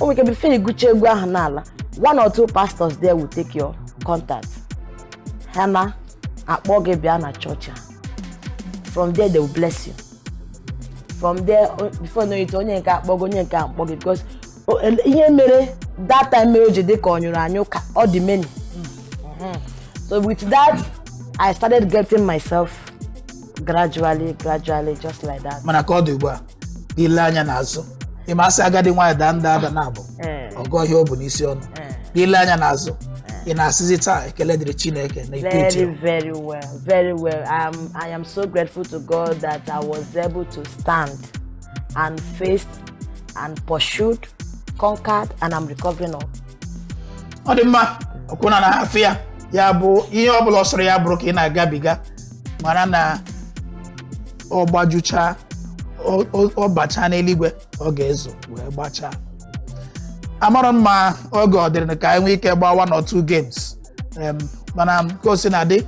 o nwere ike before ị gụcha egwu ahụ n'ala one or two pastors there will take your contact ha ana-akpọ gị bịa na chọọchị ahụ from there they will bless you from there o- before you know it onye nke a akpọ gị onye nke a akpọ gị because o- el- ihe mere that time mere o ji dị ka ọ nyụrụ anyụ ka ọ dị many so with that i started getting myself gradually gradually just like that mana ka ọ dị ugbu a ile anya n'azụ ị ma sị agadi nwaanyị daa nda ada naabọ ee, ọ gụọ ihe o bu n'isi ọnụ ee. n'ile anya n'azụ ị na-asịzi taa ekele dịrị chineke na ikpe iti Very, very well, very well. Um, I am so grateful to God that I was able to stand and faced and pursued, conquered, and I'm recovering all. ọ dị mma ọ kwa ụnụ na-afụ ya ya bụ ihe ọ bụla ọ sọrọ ya bụrụ ka ị na-agabiga mara na ọ gbajuchaa ọ- ọ ọ bachaa n'eluigwe ọ ga-ezo wee gbachaa amarọ m ma oge ọ dịrị ka anyị nwee ike gbaa one or two games Em, mana ka o si na-adị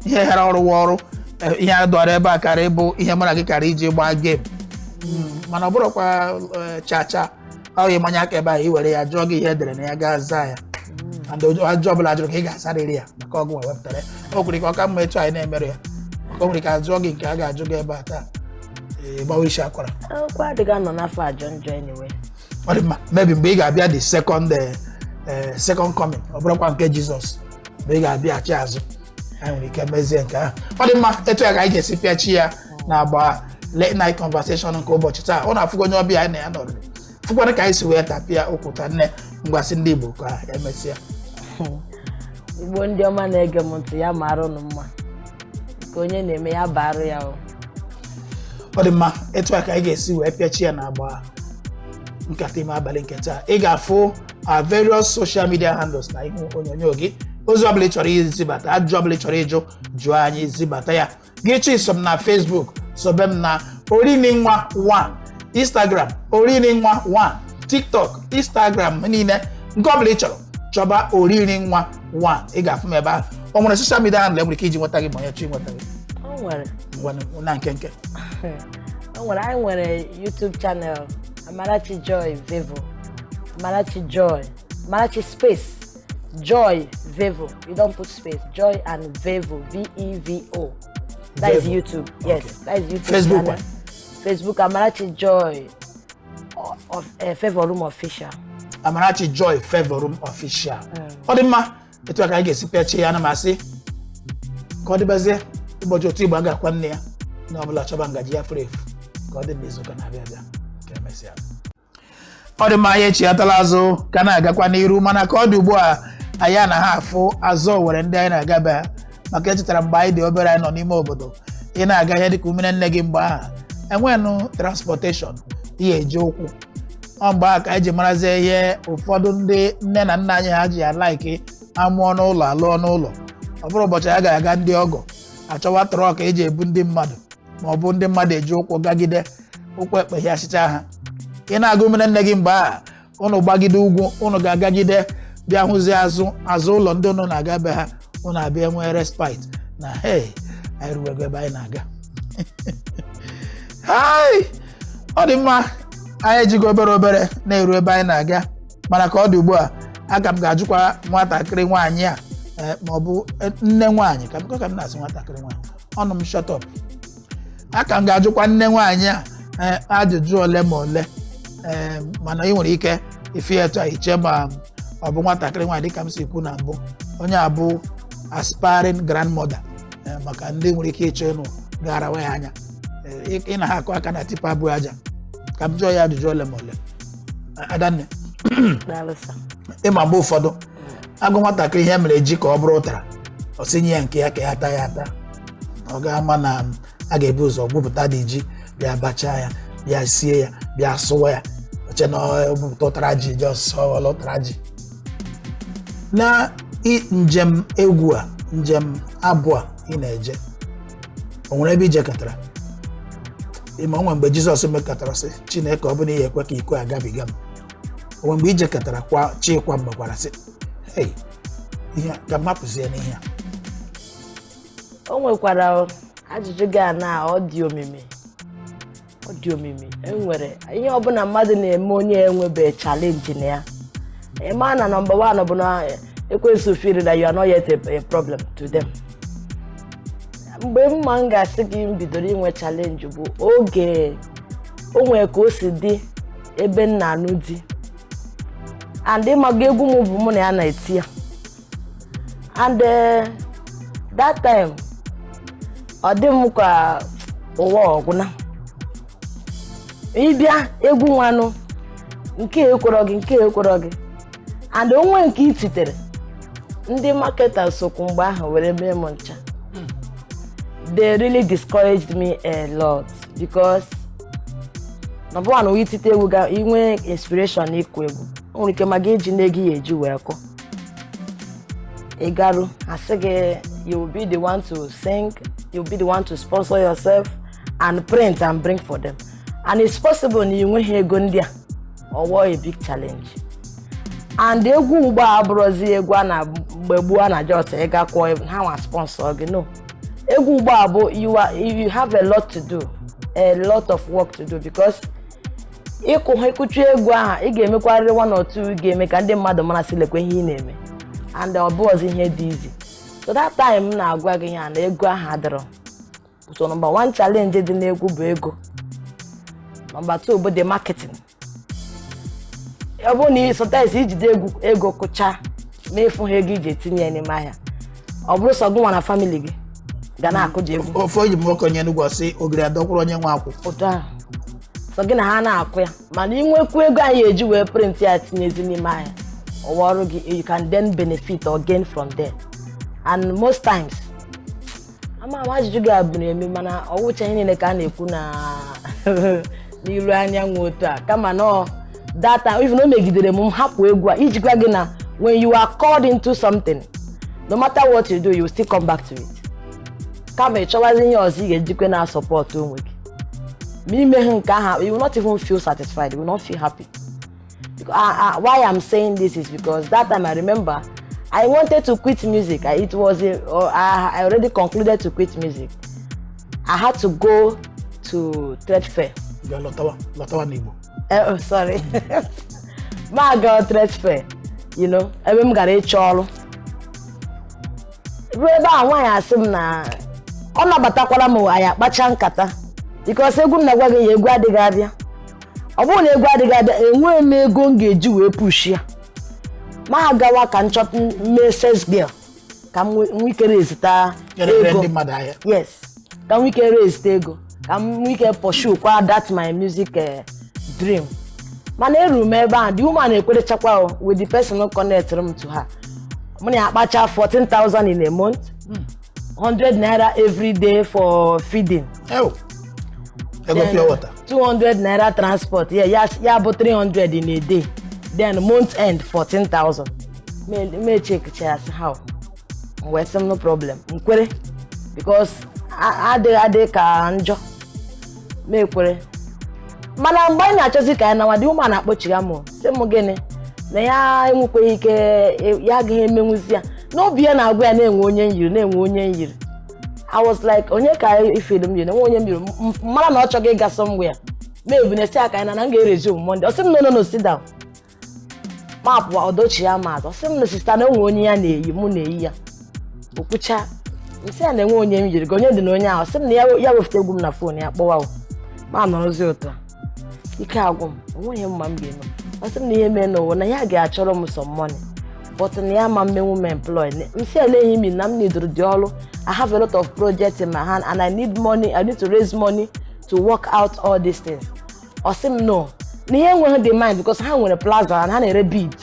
ihe ghara ọrụ wa ọrụ eh, ihe a dọrọ ebe a kara ịbụ ihe mụ na gị kara iji gbaa game Mm, mana ọ bụrụkwa eh, cha cha ọ gị manye aka ebe ahụ i were ya a jụọ gị ihe e dere na ya ị ga-aza ya and ajụjụ ọbụla a jụrụ ka ị ga-asarịrị ya maka ọ gịnwa wepụtara ya o kwere ka ọ ka mma etu anyị na-emerọ ya maka o nwere ka a jụọ gị nke a ga-ajụ gị ebe a taa ee gbawa isi akwara akwụkwọ adịghị anọ n'afọ ajọ njọ anyway ọ dị mma maybe mgbe ị ga-abịa the second eh, eh, second coming ọ bụrụkwa nke jizọs mgbe ị ga-abịaghachi azụ anyị nwere ike mezie nke ahụ ọ dị mma etu a ka anyị ga-esi pịachi ya n'agba late night conversation nke ụbọchị taa ụnụ afụgo onye ọbịa anyị na ya nọrọ fụkwara ka anyị si wee tapịa okwu taa nne m ngwa sị ndị Igbo ka emesịa igbo ndị ọma na-ege m ntị ya mara ụnụ mma nke onye na-eme ya baara ya o ọ dị mma etu a ka anyị ga-esi wee pịachi ya n'agba nkata ime abalị nke taa ị ga-afụ our various social media handles n'ihu onyonyo gị ozi ọbụla ị chọrọ izibata ajụjụ ọbụla ị chọrọ ịjụ jụọ anyị zibata ya gị chọọ iso m na Facebook sobe m na oriri nwa 1 Instagram oriri nwa 1 TikTok Instagram niile nke ọbụla ị chọrọ chọba oriri nwa 1 ị ga-afụ m ebe ahụ o nwere social media handle e nwere ike iji nweta gị ma onye chọọ inweta gị o nwere ngwanụ na nkenke o nwere anyị nwere YouTube channel Amarachi Joy Vevo Amarachi Joy Amarachi Space Joy Vevo. You don't put space. Joy and Vevo. V E V O. That is Vevo. YouTube. Yes, Okay. that is YouTube. Facebook channel. Facebook Amarachi Joy o- of uh, Favor Room Official. amarachi joy favor room official ọ dị mma etu a ka anyị ga-esi pịachie ya ana m asị ka ọ dịbazie ụbọchị otu igbo a ga-akwa nne ya onye ọ bụla chọba ngaji ya furu efu ka ọ dị n'izu ụka na-abịa abịa ka emesịa ọ dị mma anyị echighatala azụ ka a na-agakwa n'iru mana ka ọ dị ugbu a anyị anaha afụ azụ owere ndị anyị na-agaba maka echetara m mgbe anyị dị obere anyị nọ n'ime obodo ị na-aga ihe dịka umere nne gị mgbe ahụ enwenụ transportation ị ga-eji ụkwụ ọ mgbe ahụ ka anyị ji marazie ihe ụfọdụ ndị nne na nna anyị ha ji a like a mụọ n'ụlọ a lụọ n'ụlọ ọ bụrụ ụbọchị a ga-aga ndị ọgọ a chọwa truck e ji ebu ndị mmadụ ma ọ bụ ndị mmadụ eji ụkwụ gagide ụkwụ ekpeghịasịcha ha ị na-aga umere nne gị mgbe ahụ ụnụ gbagide ugwu ụnụ ga-agagide bịa hụzie azụ azụ ụlọ ndị ụnụ na-aga be ha ụnụ abịa nwee respite na hey anyị ruwego ebe anyị na-aga ọ dị mma anyị ejigo obere obere na-eru ebe anyị na-aga mana ka ọ dị ugbu a aka m ga-ajụkwa nwatakịrị nwaanyị a eh, ma ọ bụ eh, nne nwaanyị ka m na-asị nwatakịrị nwaanyị ọnụ m shut up aka m ga-ajụkwa nne nwaanyị a eh, ajụjụ ole ma ole Eh, mana ị nwere ike ịfụ ya etu a i chee ma ọ bụ nwatakịrị nwaanyị dịka m si kwu na mbụ onye a bụ aspiring grandmother Eh, maka ndị nwere ike ịchọ ịnụ gara nwe ya anya Eh, ị- ị na ha akụ aka na tipa bu aja ka m jụọ ya ajụjụ ole ma ole Eh, adanne Daalụ sir. ị ma mgbe ụfọdụ a gwa nwatakịrị ihe mere ji ka ọ bụrụ ụtara ọ sị nye ya nke ya ka ya taa ya ata ọ ga-ama na a ga-ebu ụzọ gwupụtadị ji bịa bachaa ya bịa sie ya bịa sụwa ya o che na ọ bụpụta ụtara ji ji ọsụsọ ọla ụtara ji na i- njem egwu a njem abụ a ị na-eje o nwere ebe i jekatara ị ma o nwe mgbe jizọs mekatara sị chineke ọ bụ na ị ya-ekwe ka iko a gabiga m o nwe mgbe i jekatara kwa chi kwa mgbe gwara sị "Hey, ihe a, ka m hapụzie n'ihe a o nwekwara ajụjụ gị a na ọ dị omimi ọ dị omimi enwere ihe ọbụla mmadụ na-eme onye enwebe challenge na ya ị ma na number one bụ na ekwensu feel na you are not yet a, a problem to them mgbe mụa m ga-asị gị m bidoro inwe challenge bụ oge o nwere ka o si dị ebe m na-anụ di and ị maga egwu m bụ mụ na ya na-eti ya and eh, that time ọ dị m ka ụwa ọ gwụna ị bịa egwu nwanụ nke ekwọrọ gị nke ekwọrọ gị and o nwe nke i titere ndị marketers sokwu mgbe ahụ were mee m ncha they really discouraged me a lot because number one i tite egwu ga inwe inspiration na ịkụ egwu o nwere ike ma gị ejina ego ị ya-eji wee kwụọ ị garu a sị gị you will be the one to sing you will be the one to sponsor yourself and print and bring for them and it's possible na ị nweghị ego ndị a ọ wọọ a big challenge and egwu ugbo a abụrọzi egwu a na mgbe gboo a na just ị gakwuo ha nwa sponsor gị no egwu ugbu a bụ you are you have a lot to do a lot of work to do because ị kụ ị kụcha egwu aha ị ga-emekwarịrị one or two ga-eme ka ndị mmadụ mara sị lekwa ihe ị na-eme and ọ bụrọzị ihe dị easy so that time m na-agwa gị ya na ego ahụ adịrọ so number one challenge dị n'egwu bụ ego number two bụ the marketing ọ bụrụ na sometimes i jide ego kụcha ma ịfụ ha ego iji etinye ya n'ime ahịa ọ bụrụ sọ gụnwa na family gị ga na-akụji egwu ofe ọyị m nwoke onye Enugu sị ogiri adọkwụrụ onye nwe akwụ otu ahụ sọ gị na ha na-akụ ya mana i nwekwu ego anyị ya-eji wee print ya tinyezi n'ime ahịa ọwa ọrụ gị you can then benefit or gain from there and most times ama ama ajụjụ gị a bụrụ eme mana ọ wụcha ihe niile ka a na-ekwu na n'ilu anyanwụ otu a kama na that time even o megidere m m hapụ egwu a iji gwa gị na when you are called into something no matter what you do you still come back to it kama ị chọwazi ihe ọzọ ị ga-ejikwa na-support onwe gị ma i meha nke ahụ you will not even feel satisfied you will not feel happy Because, uh, uh, why I'm saying this is because that time I remember I wanted to quit music. I, it was a, or I, I already concluded to quit music. I had to go to trade fair. You are lọtawa, lọtawa n'Igbo. Uh, eh, oh, sorry. M gara trade fair. You know, ebe m gara ịchọ ọrụ. Ruo ebe a nwaanyị asị m na ọ nabatakwara m anyị akpacha nkata. Because egwu m na-agwa gị ya egwu adịghị abịa. ọ bụrụ na egwu adịghị abịa enweghị m ego m ga-eji wee push ya m agawa ka m chọta mee sales girl ka m nwe- nwee ike raise-ta Nyere ego ndị mmadụ ahịa yes ka m nwee ike raise ego ka m nwee ike pursue kwa that my music eh, dream mana eruru m ebe ahụ the woman ekwerechakwa o with the person connectụrụ m to her mụ na ya akpacha 14,000 in a month 100 naira every day for feeding Ew. Ego pure water. 200 naira transport yeah, ya, ya bụ 300 in a day then month end 14,000 Me- m e-checkchaa sị how m wee sị m no problem m kwere because a- adịghị adịghị ka njọ m ekwere mana mgbe anyị na-achọzi ka anyị nawa the woman akpọchigha m sị m gịnị na ya enwekweghị ike ya agaghị emenwuzi ya n'obi ya na-agwa ya na e nwe onye m yiri na e nwe onye m yiri I was like onye ka i feel m yiri na e nwe onye m yiri mara na ọ chọghị ịga somewhere maybe na m si aka ya na na m ga-resume Monday ọ sị m no no no sit down mapụ ọdọchi ya ma ọ sị m na sister na o nwe onye ya na-eyi mụ na-eyi ya o kwuchaa m sị ya na e nwe onye m yiri gị onye dị na onye ahụ sị m na ya wefute egwu m na phone ya kpọwa m anọrọzi ụtọ ike agwụ m o nweghị m ma m ga-eme ọ sị m na ihe mee n'ụwa na ya ga-achọrọ m some money but na ya ama emenwu m employ m sị eleghị m na m needoro the ọrụ I have a lot of projects in my hand and I need money I need to raise money to work out all these things ọ sị m no na ya enweghị the mind because ha nwere plaza and ha na-ere bead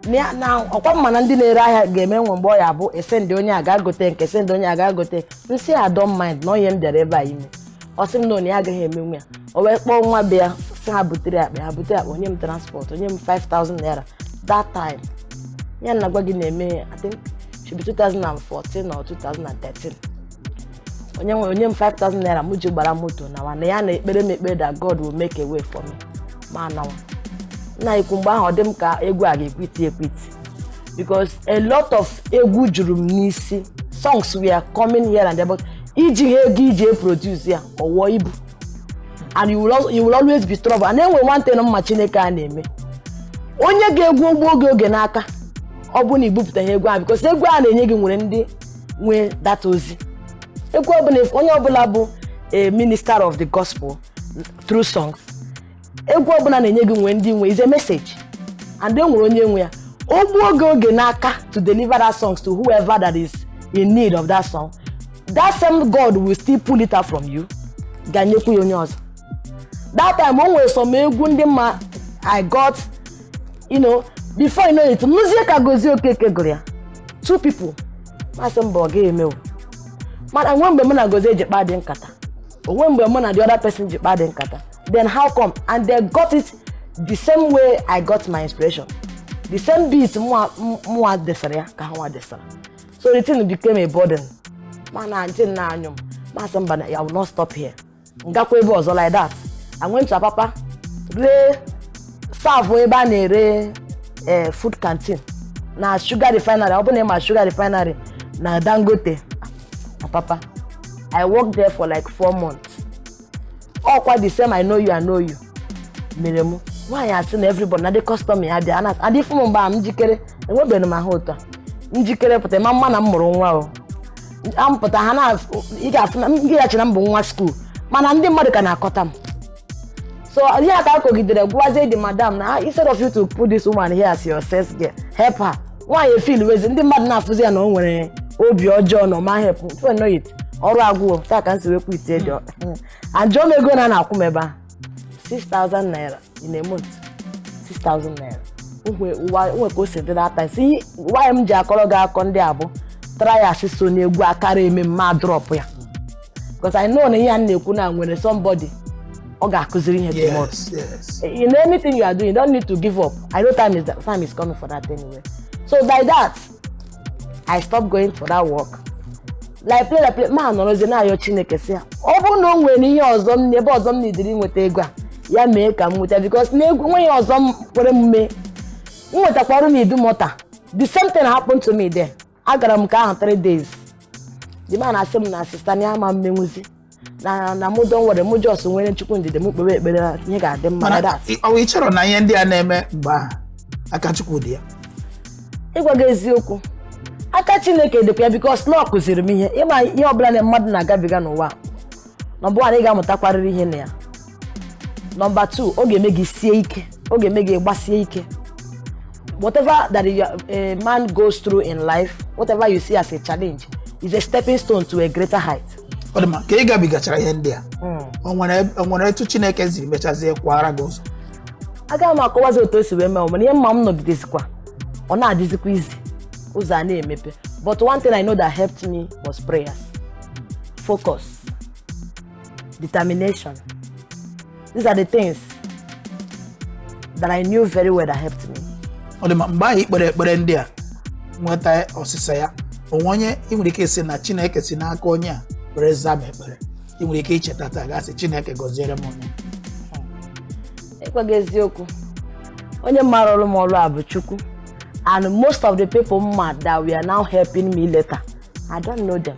na ya- na ọ kwa m ma na ndị na-ere ahịa ga-eme e nwe mgbe ọ ya-abụ e send onye a ga gote nke e send onye a ga gote m sị I don't mind na ọ ihe m bịara ebe a ime ọ sị m no na ya agaghị emenwu ya o wee kpọọ nwa be ya sị ha butere akpa ha butere akpa o nye m transport o nye m 5000 naira that time ihe m na-agwa gị na-eme I think should be 2014 or 2013 o nye m o nye m 5000 naira m ji gbara moto nawa na ya na-ekpere m ekpere that God will make a way for me m anawa nna ikwu mgbe ahụ ọ dị m ka egwu a ga-equit equit because a lot of egwu juru m n'isi songs were coming here and there but iji ha ego iji eproduce ya ọ wụọ ibu and you will, al- you will always be trouble and e nwe one thing m ma Chineke a na-eme o nye gị egwu o gbuo oge oge n'aka ọ bụ na i bupụtaghị egwu ahụ because egwu a na-enye gị nwere ndị nwe that ozi egwu ọbụla onye ọbụla bụ a minister of the gospel through songs egwu ọbụla a na-enye gị nwere ndị nwe is a message and e nwere onye nwe ya o gbuo oge oge n'aka to deliver that songs to whoever that is in need of that song that same god will still pull it out from you ga-enyekwu ya onye ọzọ that time o nwere some egwu ndị m ma I got you know before you know it m nụzie ka Gozie Okeke gụrụ ya two people m asị mba ọ ga-emewu mana o nwe mgbe mụ na Gozie ji kpaadị nkata o nwe mgbe mụ na the other person ji kpaadị nkata then how come and they got it the same way I got my inspiration the same beat mụwa mụwa desara ya ka ha nwa desara so the thing became a burden mana ntị nna anyụ m m asị mba na I will not stop here m gakwa ebe ọzọ like that I went to Apapa ree serve ebe a na-ere eh, food canteen na sugar refinery ọ bụ na ị ma sugar refinery na Dangote Apapa I worked there for like four months ọkwa the same I know you I know you mere m nwaanyị a sị na everybody na the customer ya dị ana adị fụ m mgbe a m jikere enwebeghị m ahụ otu a m jikere pụta ị ma ama na m mụrụ nwa o m pụta ha na ị ga-afụ na ị ya-eche na m bụ nwa school mana ndị mmadụ ka na-akọta m so ihe a ka a kọgidere gwazie the madam na instead of you to put this woman here as your sales girl help her nwaanyị efeelwezi ndị mmadụ na-afụzi ya na o nwere obi ọjọọ na ọ ma help before you know it ọrụ agwụ otu a ka m si wee quit the work and jụọ m ego one a na-akwụ m ebe a 6000 naira in a month 6000 naira nwe ka o si dị that time see why m ji akọrọ gị akọ ndị a bụ trials so na egwu a kara eme mụ adrop ya because I know na ihe a m na-ekwu na o nwere somebody ọ ga-akụziri ihe tomorrow yes yes in anything you are doing you don't need to give up I know time is, time is coming for that anyway so by that i stopped going for that work like play like play mụ anọrọzie na-ayọ chineke sị ya ọ bụrụ na o nwere ihe ọzọ m ebe ọzọ m na-ediri nweta ego a ya mee ka m nweta because na egwu nweghị ọzọ m kwere m mee m nwetakwa ọrụ n'Idumota the same thing happened to me there agara m ka ahụ three days the man asị m na sister na ya ama emenwuzi na na mụ just nwere mụ just nwere chukwu ndidi m kpewe ekpere ihe ga-adị mma mana na ị- ọ bụ ị chọrọ na ihe ndị a na-eme mgbe ahụ aka chukwu dị ya ịgwa gị eziokwu aka chineke dịkwa ya because na ọ kụziri m ihe ịma ihe ọbụla na mmadụ na-agabiga n'ụwa nọmba 1 ị ga-amụtakwarịrị ihe na ya nọmba 2 ọ ga-eme gị sie ike ọ ga-eme gị gbasie ike whatever that you, a man goes through in life whatever you see as a challenge is a stepping stone to a greater height ọ dị mma ka ị gabigachara ihe ndị a o nwere o nwere etu chineke siri mechazie kwara gị ụzọ agaghị m akọwazi otu o si wee mee mana ihe m ma m nọgidezikwa ọ na-adịzikwa easy ụzọ a na-emepe but one thing i know that helped me was prayers focus determination. These are the things that I knew very well that helped me. ọ dị mma mgbe ahụ i kpere ekpere ndị a nweta ọsịsa ya o nwe onye ị nwere ike ịsị na chineke si n'aka onye a were zaa m ekpere ị nwere ike icheta taa gaa sị chineke gọziere m onye ịgwa gị eziokwu onye m ma rụrụ m ọrụ a bụ chukwu and most of the people m ma that were now helping me later i don't know them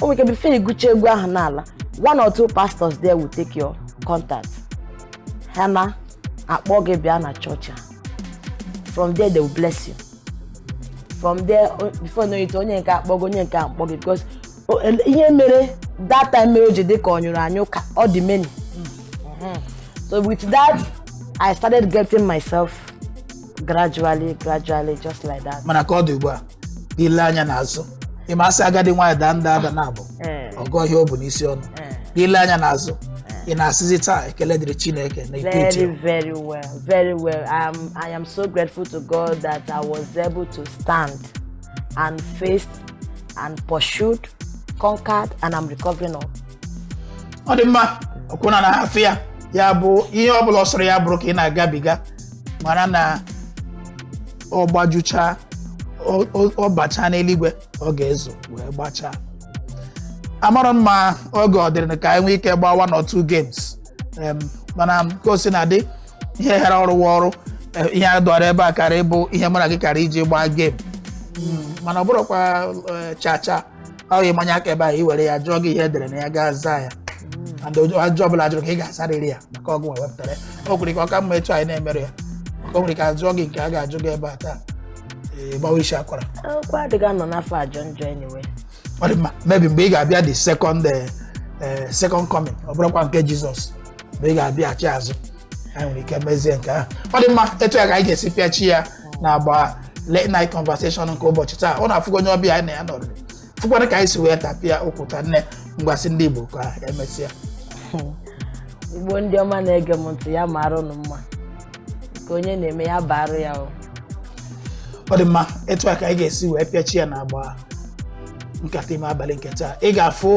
o nwere ike before ị gụchaa egwu ahụ n'ala one or two pastors there will take your contact ha ana-akpọ gị bịa na chọọchị ha from there they will bless you from there o- before you know it onye nke a akpọ gị onye nke a akpọ gị because o- ele- ihe mere that time mere o ji dị ka ọ nyụrụ anyụ ka ọ dị many so with that i started getting myself gradually gradually just like that mana ka ọ dị ugbu a gị lee anya n'azụ ị ma a sị agadi nwaanyị daa nda ada naabọ ee, a gụọ ihe o bu n'isi ọnụ ee. gị lee anya n'azụ ị na-asịzi taa ekele dịrị chineke na ikpe iti Very, very well, very well. Um, I am so grateful to God that I was able to stand and faced and pursued, conquered, and I'm recovering all. ọ dị mma ọkwụna na afịa ya bụ ihe ọ bụla ọ sọrọ ya bụrụ ka ị na-agabiga mara na ọ gbajucha ọ- ọ ọ bachaa n'eluigwe ọ ga-ezo wee gbachaa amarọ m ma oge ọ dịrị ka anyị nwee ike gbaa one or two games Em, mana ka o sina dị ihe hara ọrụ wa ọrụ eh, ihe a dọrọ ebe a kaara ịbụ ihe mụ na gị kaara iji gbaa game Mm, mana ọ bụrụkwa eh, cha cha ọ gị manye aka ebe a i were ya jụọ gị ihe e dere na ya gị azaa ya and ojo- ajụjụ ọbụla a jụrụ ka ị ga-asarịrị ya maka ọ gịnwa wepụtara ya o kwere ka ọ ka mma etu anyị na-emere ya maka o nwere ike a jụọ gị nke a ga-ajụ gị ebe a taa ee, gbawa isi akwara akwụkwọ adịghị anọ n'afọ ajọ njọ anyway ọ dị mma maybe mgbe ị ga-abịa the second eh, eh, second coming ọ bụrụkwa nke jizọs mgbe ị ga-abịaghachi azụ anyị nwere ike mezie nke ahụ ọ dị mma etu a ka anyị ga-esi pịachi ya na agba late night conversation nke ụbọchị taa ụnụ afụgo onye ọbịa anyị na ya nọrọ fụkwara ka anyị si wee tapịa okwu taa nne m ngwa sị ndị Igbo ka emesịa igbo ndị ọma na-ege m ntị ya mara ụnụ mma nke onye na-eme ya baara ya o ọ dị mma etu a ka anyị ga-esi wee pịachi ya na agba nkata ime abalị nke taa ị ga-afụ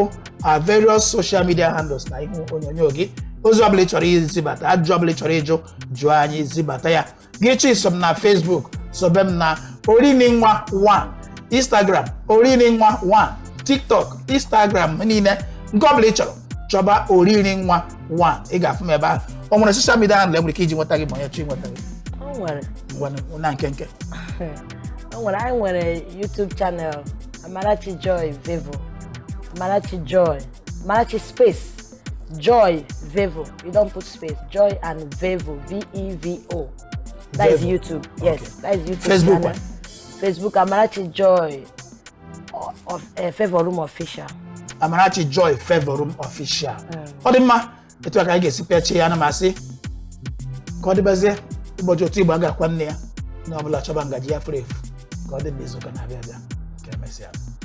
our various social media handles na ihu onyonyo gị ozi ọbụla ị chọrọ izibata ajụjụ ọbụla ị chọrọ ịjụ jụọ anyị zibata ya gị chọọ iso m na Facebook sobe m na oriri nwa 1 Instagram oriri nwa 1 TikTok Instagram niile nke ọbụla ị chọrọ chọba oriri nwa 1 ị ga-afụ m ebe ahụ o nwere social media handle e nwere ike iji nweta gị ma onye chọọ ịnweta gị o nwere ngwanụ na nkenke o nwere anyị nwere YouTube channel Amarachi Joy Vevo Amarachi Joy Amarachi Space Joy Vevo. You don't put space. Joy and Vevo. V E V O. That is Vevo. YouTube. Yes, Okay. that is YouTube. Facebook channel. one. Facebook Amarachi Joy o- of uh, Favor Room Official. amarachi joy Favor Room official ọ dị mma etu a ka anyị ga-esi pịachie ya ana m asị ka ọ dịbazie ụbọchị otu igbo a ga-akwa nne ya onye ọ bụla chọba ngaji ya furu efu ka ọ dị mgbe izuụka na-abịa abịa ka emesịa